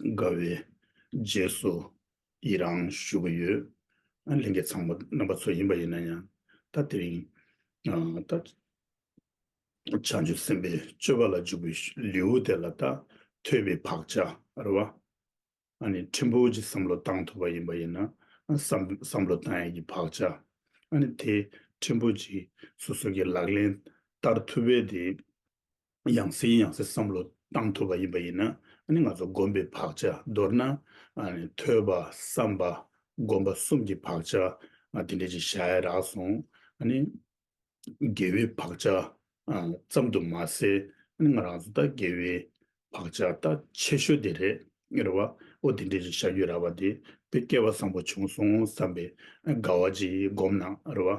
དགའ་བའི་རྗེས་སུ་ཡི་རང་བཞུགས་ཀྱི་ཡོད། ལིང་གེ་ཚང་མ་རྣམ་པ་ཚོ་ཡིན་པ་ཡིན་ན་ཡང་ད་དེ་རིང་ད་བྱང་ཆུབ་སེམས་དཔའི་སྤྱོད་པ་ལ་འཇུག་པའི་ལེའུ་དེ་ལ་ད་ཐོས་པའི་བག་ཆགས་རེ་བ་ནི་ཕྲན་བུ་གྱི་བསམ་བློ་བཏང་ཐུབ་པ་ཡིན་པ་ཡིན་ན་བསམ་བློ་བཏང་ཡས་ཀྱི་བག་ཆགས་ནི་དེ་ཕྲན་བུ་གྱིས་སོ་སོ་ཀྱི་ལག་ལེན་བསྟར་ཐུབ་པས་དེ་ཡང་སྲིད་ཡང་སྲིད་བསམ་བློ་བཏང་ཐུབ་པ་ཡིན་པ་ཡིན་ན་ང་ཚོ་སྒོམ་པའི་བག་ཆགས་མདོར་ན་ཐོས་པ་བསམ་པ་སྒོམ་པ་གསུམ་གྱི་བག་ཆགས་དེ་འདྲ་ཅིག་བཞག་ཡ་རག་སོང། དགེ་བའི་བག་ཆགས་ཙམ་དུ་མ་ཟད་ང་རང་ཚོ་ད་དགེ་བའི་བག་ཆགས་ད་ཆེ་ཤོས་དེ་རེད་རེད་བ། འོ་དེ་འདྲ་ཅིག་བཞག་རྒྱུ་རག་པ་དེ་དཔེ་སྐལ་བ་བཟང་པོ་བྱུང་སོང་བསམ་པའི་དགའ་བ་ཅིག་སྒོམ་ན་རེད་བ།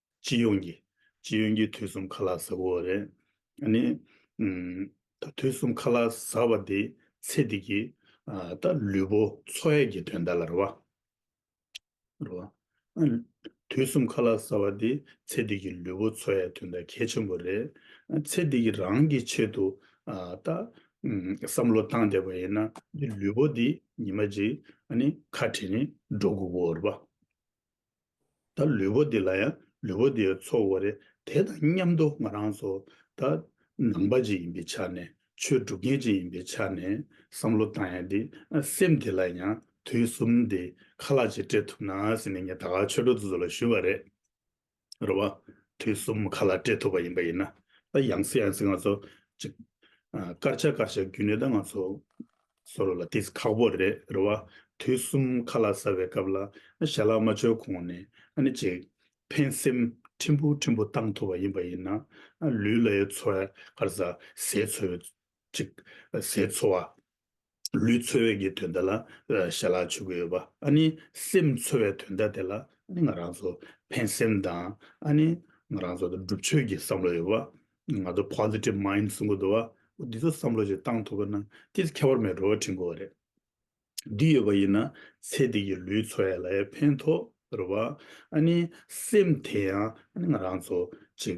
སྤྱི་ཡོངས་ཀྱི། སྤྱི་ཡོངས་ཀྱི་དུས་གསུམ་ཁ་ལག་བཟའ་བོ་རེད། ད་ནི། ད་དུས་གསུམ་ཁ་ལག་བཟའ་བ་དེ་ཚེ་འདི་གི། ད་ལུས་པོ་འཚོ་ཡས་ཀྱི་དོན་དག་ལ་རོལ་བ། རོལ་བ། དུས་གསུམ་ཁ་ལག་བཟའ་བ་དེ་ཚེ་འདི་གི་ལུས་པོ་འཚོ་ཡས་དོན་དག་གལ་ཆེན་པོ་རེད། ཚེ་འདི་གི་རང་གི་ཆེད་དུ། ད། བསམ་བློ་བཏང་བསྡད་པ་ཡིན་ན་འདི་ལུས་པོ་འདི་ཉི་མ་གཅིག་ཨ་ནི་ཁ་བྲལ་ནས་འགྲོ་དགོས་པོ་རེད་པ། ད་ལུས་པོ་འདི་ལ་ཡང་ལུས་པོ་འདིའི་ཚོགས་དབོ་རེད་དེ་དང་མཉམ་དུ་ང་རང་ཚོ་ད་ནང་པ་ཅིག་ཡིན་པའི་ཆ་ནས་ཆོས་སྒྲུབ་མཁན་ཅིག་ཡིན་པའི་ཆ་ནས་བསམ་བློ་བཏང་ཡང་འདི་སེམས་འདི་ལ་ཡང་དུས་གསུམ་འདི་ཁ་ལག་ཅིག་སྤྲད་ཐུབ་ན་ཟེར་ནས་ངས་ད་གར་ཆོས་གྲོགས་དེ་ཚོ་ལ་ཞུས་པ་རེད། རེད་བ། དུས་གསུམ་ཁ་ལག་སྤྲད་ཐུབ་པ་ཡིན་པ་ཡིན་ན་ད་ཡང་སྲིད་ཡང་སྲིད་ང་ཚོ་ཅིག་སྐར་ཆ་སྐར་ཆ་བརྒྱུད་ནས་ད་ང་ཚོ་ཟོ་རོ་ལ་འདི་ཁག་པོ་རེད་རེད་བ། དུས་གསུམ་ཁ་ལག་ཟ་བའི་སྐབས་ལ། ཞལ་ལག་མ་འཆོལ་གོང་ནས་ནི་ཅིག། ཕན་སེམས་ཕྲན་བུ་ཕྲན་བུ་བཏང་ཐུབ་པ་ཡིན་པ་ཡིན་ན། ལུས་ལ་ཡི་འཚོ་བའི་ཁར་ཟ་ཟས་འཚོལ་བའི་ཅིག། ཟས་འཚོ་བ། ལུས་འཚོལ་བའི་གི་དོན་དེ་ལ་ཞལ་ལག་འཆོལ་གི་ཡོད་པ། ནི་སེམས་འཚོལ་བའི་དོན་དག་དེ་ལ་ནི་ང་རང་ཚོ་ཕན་སེམས་དང། ནི་ང་རང་ཚོ་སྒྲུབ་ཆོས་ཀྱི་བསམ་བློ་ཡོད་པ། ང་ཚོ Positive Mind གསུང་གི་འདུག་བ། འདི་ཚོ་བསམ་བློ་ཞིག་བཏང་ཐུབ་པ་ན་ཏིལ་ཁྱད་པར་མེད་འགྲོ་བ་བྲིན་དགོས་བ་རེད། འདི་ཡོད་པ་ཡིན་ན་ཚེ་འདི་ཀྱི་ལུས་འཚོ་ཡ་ལ་ཡ་ཕན་ཐོག་རེད་བ། ཨ་ནི་སེམས་དེ་ཡང་ཨ་ནི་ང་རང་ཚོ་ཅིག་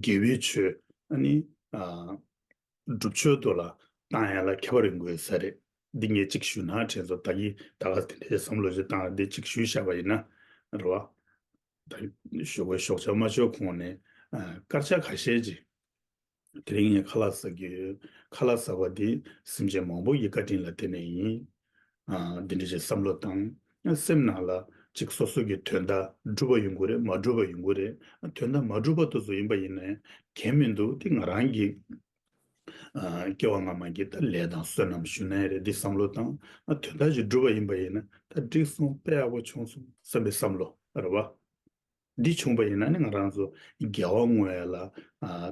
དགེ་བའི་ཆོས་ཨ་ནི་སྒྲུབ་ཆོས་དུ་ལ་བཏང་ཡ་ལ་ཁྱད་པར་རིག་དགོས་ས་རེད། འདི་ངས་ཅིག་ཞུས་ན་དྲན་ཚོ་ད་ཀྱི་ད་ག་དེ་འདྲའི་བསམ་བློ་ཞིག་བཏང་རེད་འདི་ཅིག་ཞུས་བཞག་པ་ཡིན་ན་རེད་བ། ཞོགས་པའི་ཞོགས་ཆ་མ་ཆོད་གོང་ནས་སྐར་ཆ་ཁ་ཤས་ཀྱིས་དེ་རིང་ངས་ཁ་ལག་ཟ་རྒྱུ་ཡོད། ཁ་ལག་ཟ་བ་འདི་སེམས་ཅན་མང་པོ་ཡི་བཀའ་དྲིན་ལ་བརྟེན་ནས་ཡིན། འདི་འདྲ་ཞིག་བསམ་བློ་དང་སེམས་ནང་ལ་ཅིག་སོ་སོ་གི་དོན་དག་འགྲུབ་པ་ཡོང་གི་རེད་མ་འགྲུབ་པ་ཡོང་གི་རེད་དོན་དག་མ་འགྲུབ་པ་དུ་སུ་ཡིན་པ་ཡིན་ན་གལ་མི་འདུག་དེ་ང་རང་གི་སྐྱེ་བ་སྔ་མ་འདི་ལྟར་ལས་དང་བསོད་ནམས་ཞུ་ན་ཡག་རེད་འདི་བསམ་བློ་བཏང་ན་དོན་དག་ཅིག་འགྲུབ་པ་ཡིན་པ་ཡིན་ན་ད་འགྲིག་སོང་དཔེ་ཡག་པོ་བྱུང་སོང་བསམ་པའི་བསམ་བློ་རེད་བ། འདི་བྱུང་པ་ཡིན་ན་ནི་ང་རང་ཚོ་རྒྱལ་བ་དངོས་ཡ་ལ་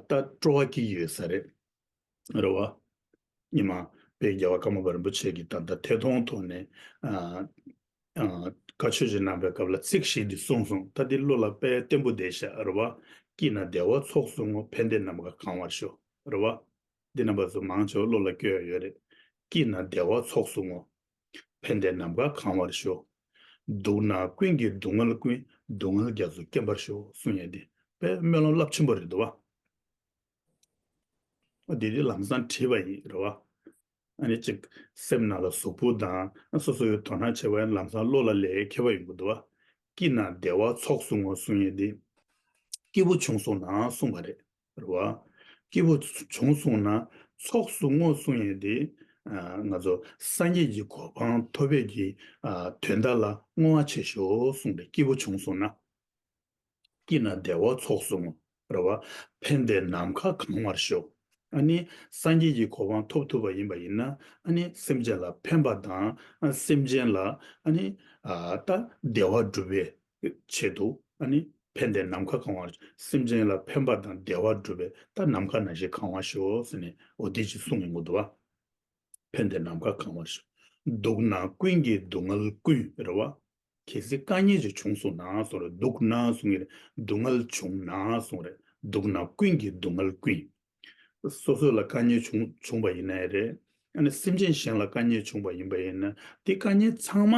ད་སྤྲོ་བ་སྐྱེ་གི་ཡོད་ས་རེད་རེད་བ། ཉི་མ་དཔལ་རྒྱལ་བ་ཀརྨ་པ་རིན་པོ་ཆེ་གི་ད་ལྟ་ཐད་གཏོང་ཐོག་ནས་བཀའ་ཆོས་ཀྱི་རྣམ་པའི་སྐབས་ལ་ཚིག་གཞན་གྱིས་གསུངས་སོང་ད་འདི་གླུ་ལ་དཔལ་བརྟན་པོ་བདེ་ཤར་བ་སྐྱིད་ན་བདེ་བ་ཚོགས་སུ་བསྔོ་ཕན་བདེ་རྣམས་ཀ་གང་བར་ཤོག་རེད་བ། འདི་རྣམ་པ་ཚོ་མང་ཆེ་བ་བློ་ལ་སྐྱོ་ཡ་ཡོད་རེད་སྐྱིད་ན་བདེ་བ་ཚོགས་སུ་བསྔོ་ཕན་བདེ་རྣམས་ཀ་གང་བར་ཤོག། སྡུག་ན་ཀུན་གྱི་སྡུག་བསྔལ་ཀུན་སྡུག་བསྔལ་རྒྱ་མཚོ་སྐེམ་པར་ཤོག་གསུངས་ཡ་འདི་དཔལ་སྨོན་ལམ་རླབས་ཆེན་པོ་རེད་བ། འདི་འདི་ལམ་བཟང་བྲིས་པ་ཡིན་རེད་བ། ཨ་ནི་གཅིག། སེམས་ནང་ལ་གཟུགས་པོ་དང་སོ་སོ་ཡོད་དོ་སྣང་ཆེ་བས་ལམ་སང་བློ་ལ་ལས་ཁེ་བ་ཡོད་དགོས་དོ། སྐྱིད་ན་བདེ་བ་ཚོགས་བཟུང་ངོ་གསུང་ཡས་ཏེ། སྐྱིད་པོ་བྱུང་སོང་ན་གསུང་བ་རེད། རེད་བ། སྐྱིད་པོ་བྱུང་སོང་ན་ཚོགས་བཟུང་ངོ་གསུང་ཡས་ཏེ། ང་ཚོ་སངས་རྒྱས་ཀྱི་གོ་འཕང་ཐོབ་བས་ཀྱི་དོན་དག་ལ་བསྔོ་བ་བྱེད་ཞོག་གསུང་པས་སྐྱིད་པོ་བྱུང་སོང་ན། སྐྱིད་ན་བདེ་བ་ཚོགས་སུ་བསྔོ། རེ་བ་ཕན་བདེ་ནམ་མཁའ་གང་བར་ཤོག། ཨ་ནི་སངས་རྒྱས་ཀྱི་གོ་འཕང་ཐོབ་ཐུབ་པ་ཡིན་པ་ཡིན་ན་ཨ་ནི་སེམས་ཅན་ལ་ཕན་པ་དང་ཨ་སེམས་ཅན་ལ་ཨ་ནི་ད་བདེ་བ་སྒྲུབ་པའི་ཆེད་དུ་ཨ་ནི་ཕན་བདེ་ནམ་མཁའ་གང་བར་སེམས་ཅན་ལ་ཕན་པ་དང་བདེ་བ་སྒྲུབ་པའི་ད་ནམ་མཁའ་ན་ཞིག་གང་བར་ཤོག་ཟེར་ནས་འོ་དེ་ཅི་གསུང་ངེ་འགོ་འདུག་ཨ་ཕན་བདེ་ནམ་མཁའ་གང་བར་ཤོག། སྡུག་ན་ཀུན་གྱི་སྡུག་བསྔལ་ཀུན། རེ་བ་གལ་སྲིད་བཀའ་ཉན་ཞིག་བྱུང་སོང་ན་སོང་རེད་འདུག་ན་སོང་ངེར་སྡུག་བསྔལ་བྱུང་ན་སོང་རེད་འདུག་ན་ཀུན་གྱི་སྡུག་བསྔལ་ཀུན། སོ་སོ་ལ་བཀའ་ཉན་བྱུང་བྱུང་བ་ཡིན་ན་ཡིན་རེད་ཨ་ནི་སེམས་ཅན་གཞན་ལ་བཀའ་ཉན་བྱུང་བ་ཡིན་པ་ཡིན་ན་དེ་བཀའ་ཉན་ཚང་མ་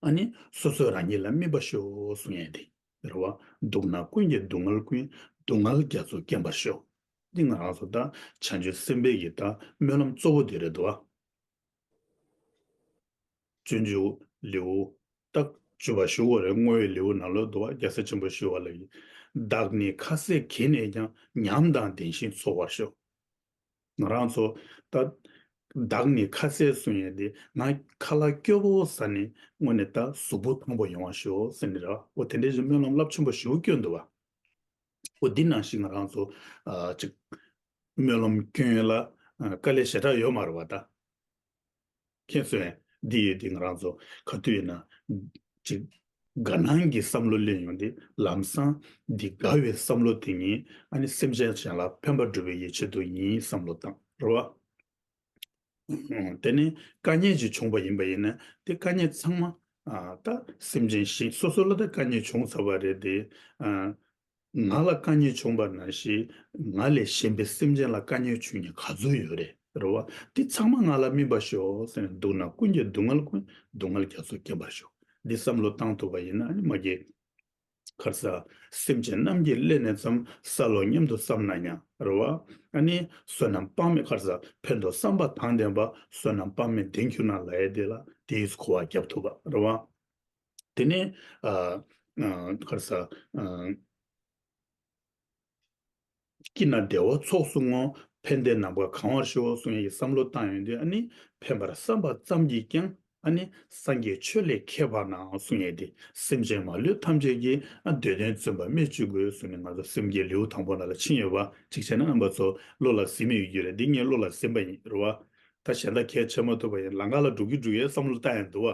ཨ་ནི་སོ་སོ་རང་ཉིད་ལ་སྨིན་པ་ཤོག་སོང་ཡ་དེ་རེད་བ་འདུག་ན་ཀུན་གྱི་སྡུག་བསྔལ་ཀུན་སྡུག་བསྔལ་རྒྱ་མཚོ་སྐེམ་པར་ཤོག་འདི་ང་རང་སོ་ད་བྱང་ཆུབ་སེམས་དཔའི་གི་ད་སྨོན་ལམ་གཙོ་བོ་དེ་རེད་བ། བཙུན་བཅུ། ལེའུ། རྟགས་བཅུ་བ་ཞུ་བ་རེ་བསྔོ་བའི་ལེའུ་ནང་ལོ་ཏོ་བ་རྒྱལ་ས་ཆེན་པོ་ཞུ་བ་ལ་ཡི་དྭགས་ནི་ཁ་ཟས་གྱིས་ནས་ཀྱང་ཉམས་དང་ལྡན་ཞིང་འཚོ་བར་ཤོག། ང་རང་ཚོ། ཏདྱ། བདག་ནི་ཁ་ཟས་སུ་ཡིན་ཏེ་ང་ཁ་ལ་སྐྱོ་བོ་ས་ནི་སྔོན་ནས་ཏདྱ་གཟུགས་པོ་ཐང་པོ་ཡོང་བར་ཤོག་ཟེར་ནས་ར་བ་དེ་འདྲའི་བཞིན་སྨོན་ལམ་རླབས་ཆེན་པོ་ཞུ་བ་སྐྱོ་འདུག་བ། པོ་འདི་ནང་བཞིན་ང་རང་ཚོ་གཅིག། སྨོན་ལམ་ཁྱོད་ལ་དཀའ་ལས་ཞེ་དྲག་ཡོད་མ་རེད་བ་ད། ཁྱེད་ཚོས་འདི་ཡོད་དེ་ང་རང་ཚོ་ག་དུས་ཡིན་ན་གཅིག། དགའ་སྣང་གི་བསམ་བློ་གླེང་ཡོང་དེ་ལམ་སང་འདི་དགའ་བའི་བསམ་བློ་དེ་ཉིད་ཨ་ནི་སེམས་ཅན་གཞན་ལ་ཕན་པ་སྒྲུབ་པའི་ཡིད་ཆེད་དུ་ཡིན་བསམ་བློ་བཏང་རེད་བ། དེ་ནི་བཀའ་ཉན་གྱིས་བྱུང་བ་ཡིན་པ་ཡིན་ན་དེ་བཀའ་ཉན་ཚང་མ་ད་སེམས་ཅན་ཞིག་སོ་སོ་ལ་ད་བཀའ་ཉན་བྱུང་ཚར་བ་རེད་དེ། ང་ལ་བཀའ་ཉན་བྱུང་བ་ན་ཞིག་ང་ལས་གཞན་པའི་སེམས་ཅན་ལ་བཀའ་ཉན་བྱུང་ནི་ག་ཚོད་ཡོད་རེད་རེད་བ། འདི་ཚང་མ་ང་ལ་སྨིན་པར་ཤོག་ཟེར་ནས་འདུག་ན་ཀུན་གྱི་སྡུག་བསྔལ་ཀུན་སྡུག་བསྔལ་རྒྱ་མཚོ་སྐེམ་པར་ཤོག་འདི་བསམ་བློ་བཏང་ཐུབ་པ་ཡིན་ན་ནི་མ་གི། ཁར་ས། སེམས་ཅན་རྣམས་ཀྱིས་སླད་ནས་ཙམ་ས་ལོ་སྙམ་དུ་བསམས་ན་ཡང་རུང་བ། ནི། བསོད་ནམས་དཔག་མེད་ཁར་ས་ཕན་འདོགས་བསམ་པ་དང་ལྡན་པ་བསོད་ནམས་དཔག་མེད་ལྡན་གྱུར་ན་ལ་ཡས་དེ་ལ་དེའི་འཁོར་བ་བརྒྱ་ཐུབ་པར་རུང་བ། དེ་ནས། ཁར་ས། སྐྱིད་ན་བདེ་བ་ཚོགས་སུ་བསྔོ། ཕན་བདེ་ནམ་མཁའ་གང་བར་ཤོག་གསུང་ཡིག་བསམ་བློ་བཏང་ཡོང་དུས་ཨ་ནི་ཕན་པར་བསམ་པ་ཙམ་གྱིས་ཀྱང་ཨ་ནི་སངས་རྒྱས་ཆོས་ལས་ཁྱད་འཕགས་ནའང་གསུང་ངེས་ཏེ་སེམས་ཅན་མ་ལུས་ཐམས་ཅད་ཀྱིས་ཨ་འདོད་དོན་བརྩོན་པ་རྨད་བྱུས་དགོས་གསུང་ནས་ང་ཚོ་སེམས་ཀྱི་ལེའུ་དང་པོ་ན་ལ་ཕྱིན་ཡོད་པ་གཅིག་བྱས་ན་ཨ་འབའ་ཚོ་བློ་ལ་ཟིན་མི་ཡོད་རྒྱུ་རེད་འདི་ངའི་བློ་ལ་ཟིན་པ་ཡིན་རུང་བ་ད་གཞན་དག་ཁས་འཆེ་མ་ཐུབ་པ་ཡིན་ལ་ང་ལ་འགྲོ་གི་འགྲོ་གི་བསམ་བློ་བཏང་ཡོང་དུས་ཨ་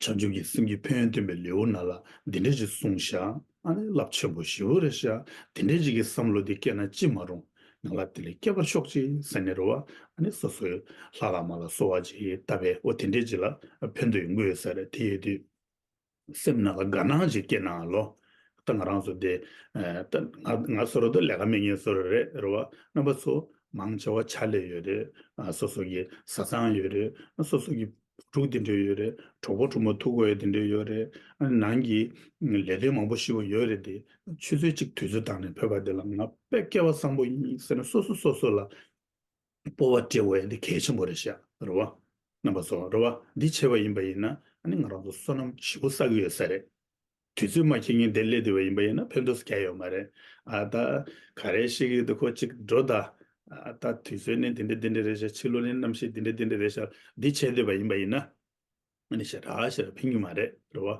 བྱང་ཆུབ་ཀྱི་སེམས་ཀྱི་ཕན་ཡོན་སྟོན་པའི་ལེའུ་ན་ལ་འདི་འདྲའི་ཅིག་གསུངས་ཤག། ཨ་ནི་རླབས་ཆེན་པོ་ཞི་བོ་རེ་ཤག་འདི་འདྲའི་ཅིག་གི་བསམ་བློ་འདི་སྐྱེས་ན་ཅི་མ་རུང། ང་ལ་དེ་ལས་སྐྱེ་བར་ཤོག་ཅིག་ཟེར་ནས་རོལ་བ། ཨ་ནི་སོ་སོའི་ལྷ་ལ་མ་ལ་གསོལ་བ་ཅིག་བཏབ་པས་འོ་དེ་འདྲའི་ཅིག་ལ་ཕན་དུ་ཡོང་གི་ཡོད་ཟེར་དེ་ཡོད་དུས། སེམས་ན་ལ་དགའ་སྣང་ཅིག་སྐྱེས་ན་ལོ། ད་ང་རང་ཚོ་དེ། ད་ང་ཚོ་རོ་ཏོ་ལས་ཀ་མེད་ངེས་ཚོར་རེད་རོལ་བ། རྣམ་པ་ཚོ། མང་ཆེ་བ་ཕྱག་ལས་ཡོད་རེད། སོ་སོ་གི་བཟའ་ཚང་ཡོད་རེད། སོ་སོ་གི། བུ་ཕྲུག་དེ་འདྲས་ཡོད་རེད་གྲོགས་པོ་གྲོགས་མོ་ཐུག་གོ་ཡ་དེ་འདྲས་ཡོད་རེད་ཨ་ནང་གི་ལས་དོན་མང་པོ་ཤི་བ་ཡོད་རེད་དེ་ཆུ་ཚོད་གཅིག་དུས་ཚོད་བཏང་ནས་བོད་པ་དེ་ལ་ང་དཔེ་སྐལ་བ་བཟང་པོ་ཡིན་ཟེར་ན་སོ་སོ་སོ་སོ་ལ་སྤོ་བ་སྤྲད་བ་ཡ་དེ་གལ་ཆེན་པོ་རེད་ཤག་རེད་བ། རྣམ་པ་ཚོ་རེད་བ་འདི་བྱས་པ་ཡིན་པ་ཡིན་ན་ཨ་ནི་ང་རང་ཚོ་བསོད་ནམས་ཞི་བོ་བསགས་ཀྱི་ཡོད་ས་རེད། དུས་ཚོད་མ་ཁེལ་ངེས་བདེ་ལེགས་དེ་བས་ཡིན་པ་ཡིན་ན་ཕན་ཐོགས་སུ་གྱ་ཡོད་མ་རེད། ཨ་ད་ག་རེ་ཤེས་ཀྱི་འདུག་ཁོ་གཅིག་འགྲོ་ད། ད་དུས་ཚོད་ནི་འདི་འདྲ་འདི་འདྲ་རེད་ཤག་ཕྱི་ལོ་ནི་གནམ་གཤིས་འདི་འདྲ་འདི་འདྲ་རེད་ཤག་འདི་བྱེད་འདོད་པ་ཡིན་པ་ཡིན་ན། ཨ་ནི་ཤ་ར་ཤ་ར་ཕན་གྱི་མ་རེད་རེད་བ།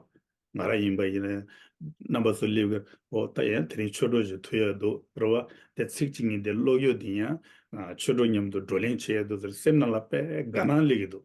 ང་རང་ཡིན་པ་ཡིན་ན། རྣམ་པ་ཚོ་སླེབས་ཀྱི་འོ་ད་ཡང་དེ་རིང་ཆོས་གྲོགས་ཞིག་ཐུག་ཡག་འདུག་རེད་བ། དེ་ཚིག་གཅིག་གཉིས་དེ་ཀློག་ཡོད་དེ་ཡང། ཆོས་གྲོགས་མཉམ་དུ་བགྲོ་གླེང་བྱེད་ཡག་འདུག་ཟེར་སེམས་ནང་ལ་དཔེ་དགའ་སྣང་སླེབས་ཀྱི་འདུག།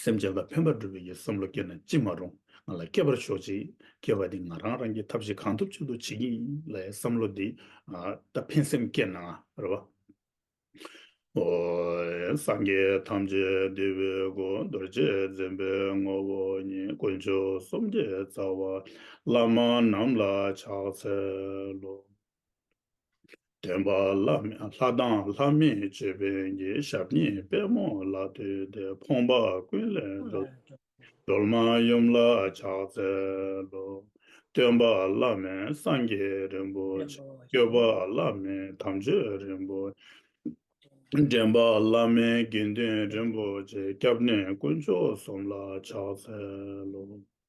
སེམས་ཅན་ལ་ཕན་པ་སྒྲུབ་པའི་ཡི་བསམ་བློ་སྐྱེས་ན་ཅི་མ་རུང་ང་ལ་སྐྱེས་པར་ཤོག་ཅིག་སྐྱེས་པ་དེ་ང་རང་རང་གིས་ཐབས་ཤེས་གང་ཐུབ་བྱེད་དུ་བྱེད་ཀྱི་ཡིན་ལ་ཡི་བསམ་བློ་འདི་ལྟ་ཕན་སེམས་སྐྱེས་ན་རེ་བ། ཧོ། སངས་རྒྱས་ཐམས་ཅད་འདུས་པའི་སྐུ་རྡོ་རྗེ་འཛིན་པའི་ངོ་བོ་ཉིད་དཀོན་མཆོག་གསུམ་གྱི་རྩ་བ་བླ་མ་རྣམས་ལ་ཕྱག་འཚལ་ལོ། བདེན་པ་ལྷ་དང་ལྷ་མིན་སྤྱོད་པས་འགྱེད་ཞབས་གཉིས་དཔལ་མོ་ལ་ལྟོས་ཏེ་ཕོངས་པ་ཀུན་ལས་འདོད། སྒྲོལ་མ་ཡུམ་ལ་ཕྱག་འཚལ་ལོ། སྟོན་པ་བླ་མེད་སངས་རྒྱས་རིན་པོ་ཆེ། སྐྱོབ་པ་བླ་མེད་དམ་ཆོས་རིན་པོ་ཆེ། འདྲེན་པ་བླ་མེད་དགེ་འདུན་རིན་པོ་ཆེ། སྐྱབས་གནས་དཀོན་མཆོག་གསུམ་ལ་ཕྱག་འཚལ་ལོ།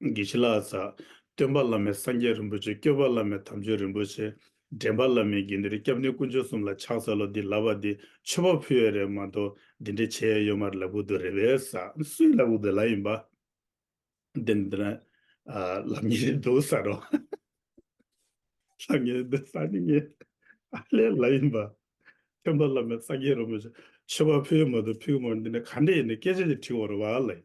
དགེ་བྱེད་ལ་ཟ། སྟོན་པ་བླ་མའི་སངས་རྒྱས་རིན་པོ་ཆེ་སྐྱོབ་པ་བླ་མའི་དམ་ཆོས་རིན་པོ་ཆེ། འདྲེན་པ་བླ་མའི་དགེ་འདུན་རེ་སྐྱབས་འདི་དཀོན་མཆོག་གསུམ་ལ་ཕྱག་འཚལ་ལོ་འདི་ལབ་པ་འདི་མཆོད་པ་ཕུལ་བས་རེད་མ་གཏོགས་འདི་འདྲའི་ཆེ་ཡ་ཡོད་མ་རེད་ལབ་ཁུག་དུ་རེད་བས་ཟ། སུའི་ལབ་ཁུག་དུ་ལ་ཡིན་པ། འདི་འདི་འདྲ། ལབ་ངེས་རེད་འདུག་ཟ་རོགས། ལབ་ངེས་རེད་འདུག་ཟ་ནི་ངེས། ཨ་ལས་ལ་ཡིན་པ། སྟོན་པ་བླ་མའི་སངས་རྒྱས་རིན་པོ་ཆེ་མཆོད་པ་ཕུལ་ཡོད་མ་གཏོགས་ཕུལ་གི་མ་རེད་འདི་འདྲ་ག་འདྲ་ཡིན་ནི་སྐད་ཆ་འདི་བྲིས་བོར་བ་ལ་ཡིན།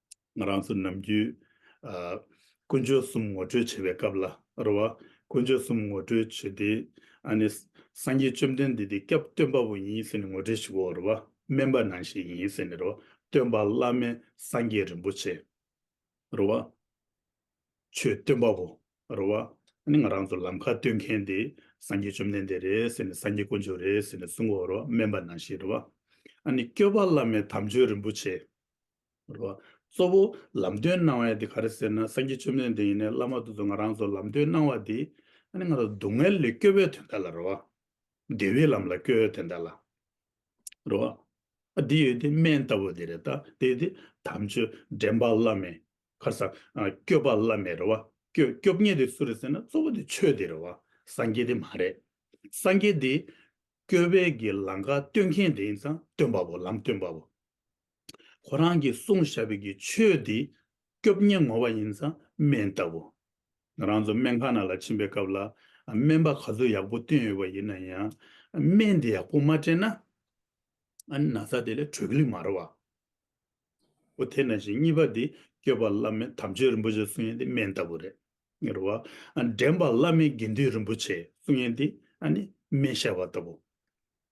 ང་རང་ཚོ་ནམ་རྒྱུན། དཀོན་མཆོག་གསུམ་ངོ་སྤྲོད་བྱེད་པའི་སྐབས་ལ། རེ་བ། དཀོན་མཆོག་གསུམ་ངོ་སྤྲོད་བྱེད་དེ། ཨ་ནི། སངས་རྒྱས་བཅོམ་ལྡན་འདས་འདི་སྐྱབས་སྟོན་པ་པོ་ཡིན་ཟེར་ནས་ངོ་སྤྲོད་བྱེད་དགོས་རེ་བ། སྨན་པ་ནང་ཞིག་ཡིན་ཟེར་ནས་རེ་བ། སྟོན་པ་བླ་མའི་སངས་རྒྱས་རིན་པོ་ཆེ། རེ་བ། ཆོས་སྟོན་པ་པོ། རེ་བ། ཨ་ནི་ང་རང་ཚོ་ལམ་ཁ་སྟོན་མཁན་དེ། སངས་རྒྱས་བཅོམ་ལྡན་འདས་རེད་ཟེར་ནས་སངས་རྒྱས་དཀོན་མཆོག་རེད་ཟེར་ནས་གསུང་དགོས་རེ་བ། སྨན་པ་ནང་ཞིག་རེ་བ། ཨ་ནི། སྐྱོབ་པ་བླ་མའི་དམ་ཆོས་རིན་པོ་ཆེ། གཙོ་བོ་ལམ་སྟོན་གནང་བ་ཡང་དེ་ག་རེ་ཟེར་ན་སངས་རྒྱས་ཆོས་མེད་འདི་ཡིན་ནས་བླ་མ་རྡོ་རྗེ་ང་རང་ཚོ་ལམ་སྟོན་གནང་བ་དེ་ཨ་ནི་ང་རང་སྡུག་བསྔལ་ལས་སྐྱོབ་པའི་དོན་དག་ལ་རེད་བ། བདེ་བའི་ལམ་ལ་སྐྱོལ་བའི་དོན་དག་ལ་རེད་བ། ཨ་དེ་ཡོད་དེ་སྨན་ལྟ་བུ་དེ་རེད་ད་དེ་ཡོད་དེ་དམ་ཆོས་འདྲེན་པ་བླ་མེད་ཁར་ས་སྐྱོབ་པ་བླ་མེད་རེད་བ། སྐྱོབ་སྐྱོབ་ཉེས་དེ་སུ་རེད་ཟེར་ན་གཙོ་བོ་དེ་ཆོས་དེ་རེད་བ་སངས་རྒྱས་དེ་མ་རེད། སངས་རྒྱས་དེ་སྐྱོབ་པའི་གི་ལམ་ཁ་སྟོན་མཁན་དེ་ཡིན་ཙང་སྟོན་པ་པོ་ལམ་སྟོན་པ་པོ། ཁོ་རང་གིས་གསུངས་བཞག་པའི་གི་ཆོས་དེ་སྐྱོབ་ཉེན་ངོ་བ་ཡིན་ཙང་སྨན་ལྟ་བུ། ང་རང་ཚོ་སྨན་ཁང་ནང་ལ་ཕྱིན་པའི་སྐབས་ལ་སྨན་པ་ག་ཚོད་ཡག་པོ་བསྟེན་ཡོད་པ་ཡིན་ན་ཡང་སྨན་དེ་ཡག་པོ་མ་སྤྲད་ན་ན་ཚ་དེ་ལས་གྲོལ་གི་མ་རེད་བ། ཨོ་དེ་ན་བཞིན་གཉིས་པ་དེ་སྐྱོབ་པ་བླ་མའི་དམ་ཆོས་རིན་པོ་ཆེ་གསུང་ཡན་དེ་སྨན་ལྟ་བུ་རེད། ངེར་བ། འདྲེན་པ་བླ་མའི་དགེ་འདུན་རིན་པོ་ཆེ་གསུང་ཡན་དེ་ནི་སྨན་བཤད་པ་ལྟ་བུ།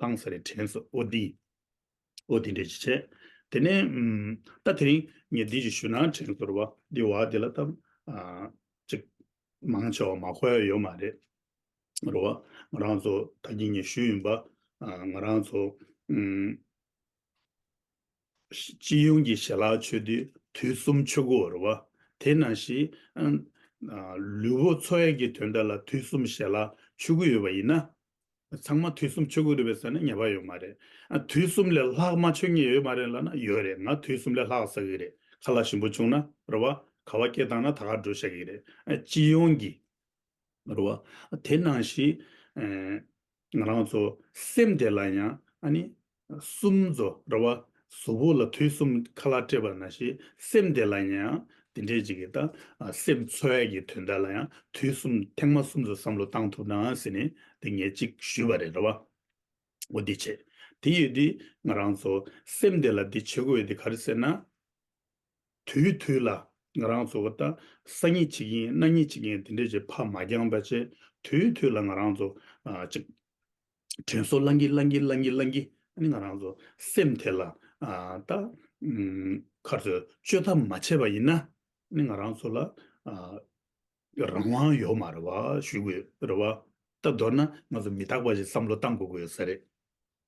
ལྷང་ས་རེ་དྲན་སོ་ཨོ་དི། ཨོ་དི་འདྲེ་ཅི་བྱས། དེ་ནས། ད་དེ་རིང་ངས་འདི་ཅིག་ཞུ་ན་དྲན་སོ་རེ་བ། འདི་བ་འདི་ལ་ཏམ། ཅིག། མང་ཆེ་བ་མ་ཁོ་ཡ་ཡོད་མ་རེད། རེ་བ། ང་རང་ཚོ་ད་གྱི་ངས་ཞུ་ཡིན་པ། ང་རང་ཚོ། སྤྱི་ཡོངས་ཀྱི་ཞལ་ལག་མཆོད་བསྟོད་དུས་གསུམ་མཆོད་བཀུར་བར་བ། དེས་ན་ཞེས། ལུས་པོ་འཚོ་བའི་གྱི་དོན་དག་ལ་དུས་གསུམ་ཞལ་ལག་མཆོད་བཀུར་ཡོད་པ་ཡིན་ན། ཚང་མ་དུས་གསུམ་མཆོད་བཀུར་ཡོད་པའི་ས་ནས་ཉེས་པ་ཡོད་མ་རེད། དུས་གསུམ་ལས་ལྷག་མ་མཆོད་ངེས་ཡོད་མ་རེད་ལབ་ན་ཡོད་རེད་ང་དུས་གསུམ་ལས་ལྷག་ཟ་གི་རེད་ཁ་ལ་ཞིམ་པོ་བྱུང་ན་རེད་བ། ཁ་བ་སྐྱེས་བཏང་ན་ད་གར་འགྲོ་ཤག་གི་རེད། སྤྱི་ཡོངས་ཀྱི། རེད་བ། དེས་ན་ཞེས། ང་རང་ཚོ་སེམས་བདེ་ལ་ཡང་ཨ་ནི། གསུམ་རྫོ་ར་བ་བཟོ་བོ་ལ་དུས་གསུམ་ཁ་ལག་སྤྲད་པ་ན་ཞེས་སེམས་བདེ་ལ་ཡང་དེ་འདྲས་ཅིག་གིས་ད་སེམས་འཚོལ་བས་ཀྱི་དོན་དག་ལ་ཡང་དུས་གསུམ་ཐེངས་མ་གསུམ་དུ་བསམ་བློ་བཏང་ཐུབ་ན་ཟེར་ནས་དེ་ངས་གཅིག་ཞུས་པ་རེད་ར་བ། འོ་དེ་བྱས་དེ་ཡོད་དེ་ང་རང་ཚོ་སེམས་བདེ་ལ་དེ་བྱེད་དགོས་དེ་ག་རེ་ཟེར་ན། དུས་དུས་ལ་ང་རང་ཚོ་ད་ས་གཉིས་ཆིག་ཡིན་གནའ་གཉིས་ཆིག་ཡིན་དེ་འདྲས་ཀྱི་ཕ་མ་རྐྱང་པ་ཆེ་དུས་དུས་ལ་ང་རང་ཚོ་ཅིག་དྲན་གསོ་བསླང་གིན་བསླང་གིན་བསླང་གིན་བསླང་གིན་ཨ་ནི་ང་རང་ཚོ་སེམས་དེ་ལ་ད་ཁར་ཚོས་བཅོས་ཐབས་མ་བྱས་པ་ཡིན་ན་ཨ་ནི་ང་རང་ཚོ་ལ་རང་དབང་ཡོད་མ་རེད་བ་ཞུས་དགོས་རེད་བ་ད་མདོར་ན་ང་ཚོ་མི་རྟག་པ་ཞིག་བསམ་བློ་གཏང་དགོས་དགོས་ས་རེད།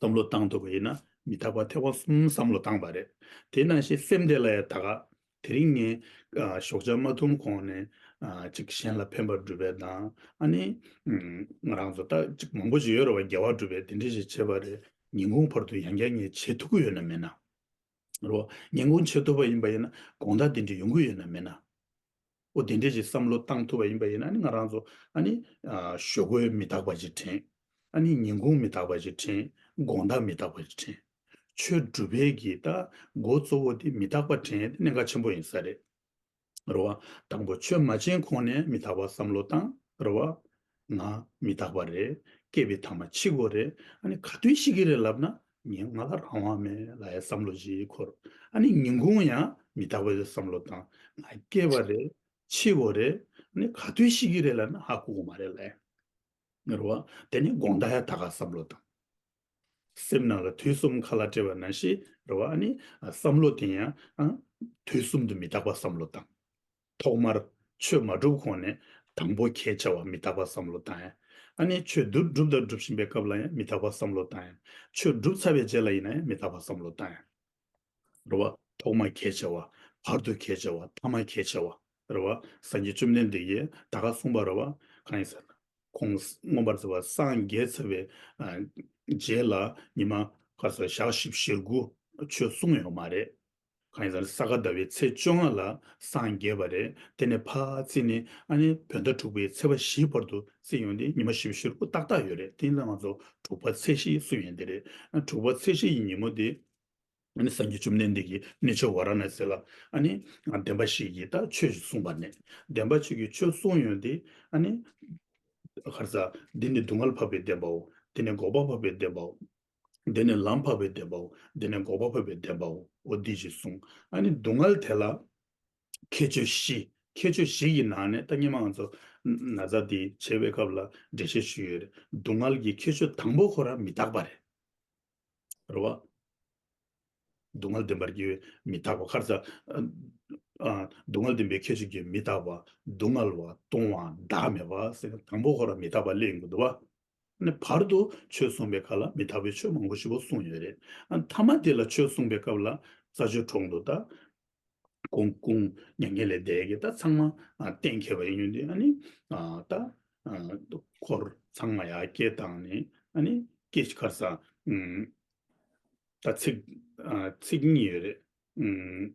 བསམ་བློ་བཏང་ཐུབ་པ་ཡིན་ན་མི་རྟག་པར་ཐེག་པ་གསུམ་བསམ་བློ་བཏང་བ་རེད། དེས་ན་གཞི་སེམས་དེ་ལ་ཡང་ད་ག། དེ་རིང་ངས། ཞོགས་ཆ་མ་འཐུང་གོང་ནས། ཅིག་གཞན་ལ་ཕན་པར་སྒྲུབ་པའི་དང། ཨ་ནི། ང་རང་ཚོ་ལྟ་ཅིག་མང་པོ་ཅིག་ཡོད་རེད་བ་རྒྱལ་བ་སྒྲུབ་པའི་དེ་འདྲས་ཞིག་བྱེད་པ་རེད། ཉིན་གུང་བར་དུ་ཡང་བསྐྱར་ངས་བྱེད་ཐུབ་ཀི་ཡོད་ན་མེད་ན། རེད་བ། ཉིན་གུང་བྱེད་ཐུབ་པ་ཡིན་པ་ཡིན་ན་དགོངས་དག་དེ་འདྲས་ཡོང་གི་ཡོད་ན་མེད་ན། ཨོ་དེ་འདྲའི་ཞིག་བསམ་བློ་བཏང་ཐུབ་པ་ཡིན་པ་ཡིན་ན་ནི་ང་རང་ཚོ་ཨ་ནི། ཞོ་གོས་མི་དག་པ་ཞིག་དྲན། ཨ་ནི་ཉིན་གུང་མི་དག་པ་ཞིག་དྲན། དགོང་དག་མི་དག་པ་ཞིག་དྲན། ཆོས་སྒྲུབ་པའི་གི་ད་མགོ་གཙོ་བོ་དེ་མི་དག་པ་དྲན་དེ་གནད་འགག་ཆེན་པོ་ཡིན་ས་རེད། རེད་བ། དང་པོ་ཆོས་མ་བྱིན་གོང་ནས་མི་དག་པ་བསམ་བློ་བཏང། རེད་བ། ན། མི་རྟག་པ་རེད། སྐྱེས་པའི་ཐ་མ་འཆི་སྒོ་རེད། ཨ་ནི་ག་དུས་ཤི་གི་རེད་ལབ་ན། ངས་ང་ལ་རང་དབང་མེད་ལ་ཡ་བསམ་བློ་བཞི་འཁོར། ཨ་ནི་ཉིན་གུང་ཡང་མི་རྟག་པའི་བསམ་བློ་བཏང། ང་སྐྱེས་པ་རེད། འཆི་སྒོ་རེད། ཨ་ནི་ག་དུས་ཤི་གི་རེད་ལབ་ན་ཧ་ལྐུག་གི་མ་རེད་ལ་ཡ། མི་རོ། དེ་ནི་དགོངས་དག་ཡ་ད་ག་བསམ་བློ་བཏང། སེམས་ནང་ལ་དུས་གསུམ་ཁ་ལ་སྤྲད་པ་ན་ཤི་རོ། ཨ་ནི་བསམ་བློ་དེ་ཡང། དུས་གསུམ་དུ་མི་རྟག་པ་བསམ་བློ་བཏང། ཐོག་མར་ཆོས་མ་སྒྲུབ་གོང་ནས་དང་པོ་ཁྱེད་བྱ་བ་མི་རྟག་པ་བསམ་བློ་བཏང་ཡང། ཨ་ནེ་ཆོས་བསྡུ་སྒྲུབ་དང་སྒྲུབ་བཞིན་པའི་སྐབས་ལ་ཡང་མི་རྟག་པ་བསམ་བློ་བཏང་ཡང། ཆོས་བསྒྲུབ་ཚར་བའི་རྗེས་ལ་ཡིན་ན་ཡང་མི་རྟག་པ་བསམ་བློ་བཏང་ཡང། རེ་བ། ཐོག་མ་ཁྱེད་བྱ་བ། བར་དུ་ཁྱེད་བྱ་བ། ཐ་མ་ཁྱེད་བྱ་བ། རེ་བ། སངས་རྒྱས་བཅོམ་ལྡན་འདས་ཀྱིས་ད་ག་གསུངས་པ་རེ་བ། གང་ཡིན་ཟེར་ན། ཁོང་མངོན་པར་བརྩེ་བ་སངས་རྒྱས་ཚར་བའི་རྗེས་ལ་ཉི་མ་ག་ས་ཞག་བཞི་བཞི་དགུ་ཆོས་གསུངས་ཡོད་མ་རེད། གང་ཟག་ས་ག་ཟླ་བའི་ཚེས་བཅོ་ལྔ་ལ་སངས་རྒྱས་པ་རེད་དེ་ནས་བར་རྩིས་ནི་ཨ་ནི་བོད་ཟླ་དྲུག་པའི་ཚེས་པ་བཞིའི་བར་དུ་རྩིས་ཡོང་སྟེ་ཉི་མ་བཞི་བཞིར་དབུ་ཏག་ཏག་ཡོད་རེད་དེ་ལ་ང་ཚོ་དྲུག་པ་ཚེས་བཞི་སུ་ཡིན་དེ་རེད་དྲུག་པ་ཚེས་བཞི་ཡི་ཉིན་མོ་དེ་ཨ་ནི་སངས་རྒྱས་བཅོམ་ལྡན་འདས་ཀྱིས་གནས་ཆོས་བ་ར་ན་སེ་ལ་ཨ་ནི་བདེན་པ་ཞིག་གིས་ད་ཆོས་ཞིག་གསུངས་པ་ནས་བདེན་པ་ཆོས་ཀྱི་ཆོས་གསུངས་ཡོང་སྟེ་ཨ་ནི། གར་ཟག་འདི་ནི་སྡུག་བསྔལ་འཕགས་པའི་བདེན་པའོ་དེ་ནི་འགོག་པ་འཕགས་པའི་བདེན་པའོ། འདི་ནི་ལམ་འཕགས་པའི་བདེན་པའོ། འདི་ནི་འགོག་པ་འཕོས་པའི་བདེན་པའོ། འདི་ཞེས་གསུངས། ཨ་ནི་སྡུག་བསྔལ་དེ་ལ། ཁྱད་ཆོས་བཞི། ཁྱད་ཆོས་བཞི་ཡི་ནང་ནས་ད་སྙན་མང་ཚོ། ན་ཚ་འདི་བྱེད་པའི་སྐབས་ལ་འགྲེལ་བཤད་ཞུས་ཡོད་རེད། སྡུག་བསྔལ་གྱི་ཁྱད་ཆོས་དང་པོ་ཁོ་ར་མི་རྟག་པ་རེད། རེད་བ། སྡུག་བསྔལ་བདེན་པར་སྐྱེ་བའི་མི་རྟག་པ་ཁར་ཚ། སྡུག་བསྔལ་བདེན་པའི་ཁྱད་ཆོས་ཀྱི་མི་རྟག་པ། སྡུག་བསྔལ་བ་སྟོང་བ་བདག་མེད་པ། དང་པོ་ཁོ་ར་མི་རྟག་པ་གླེང་དགོས་འདུག་བ། ནས་བར་དུ་ཆོས་གསུངས་པའི་ཁ་ལ་མི་ཐ་བའི་ཆོས་མང་པོ་ཞིག་བོ་གསུངས་ཡོད་རེད། མཐའ་མ་དེ་ལ་ཆོས་གསུངས་པའི་སྐབས་ལ་ས་ཆོས་གྲོང་དུ་ད་ཀོང་ཀོང་མྱ་ངན་ལས་འདས་ཀྱི་ད་ཚང་མ་གཏན་འཁེལ་བ་ཡིན་ཡོད་འདི་ཨ་ནི་ད་ཁོར་ཚང་མ་ཡ་སྐྱེ་དང་ནི་ཨ་ནི་སྐྱེ་ཁར་ས་ད་ཚིག་ཚིག་གཉིས་ཡོད་རེད།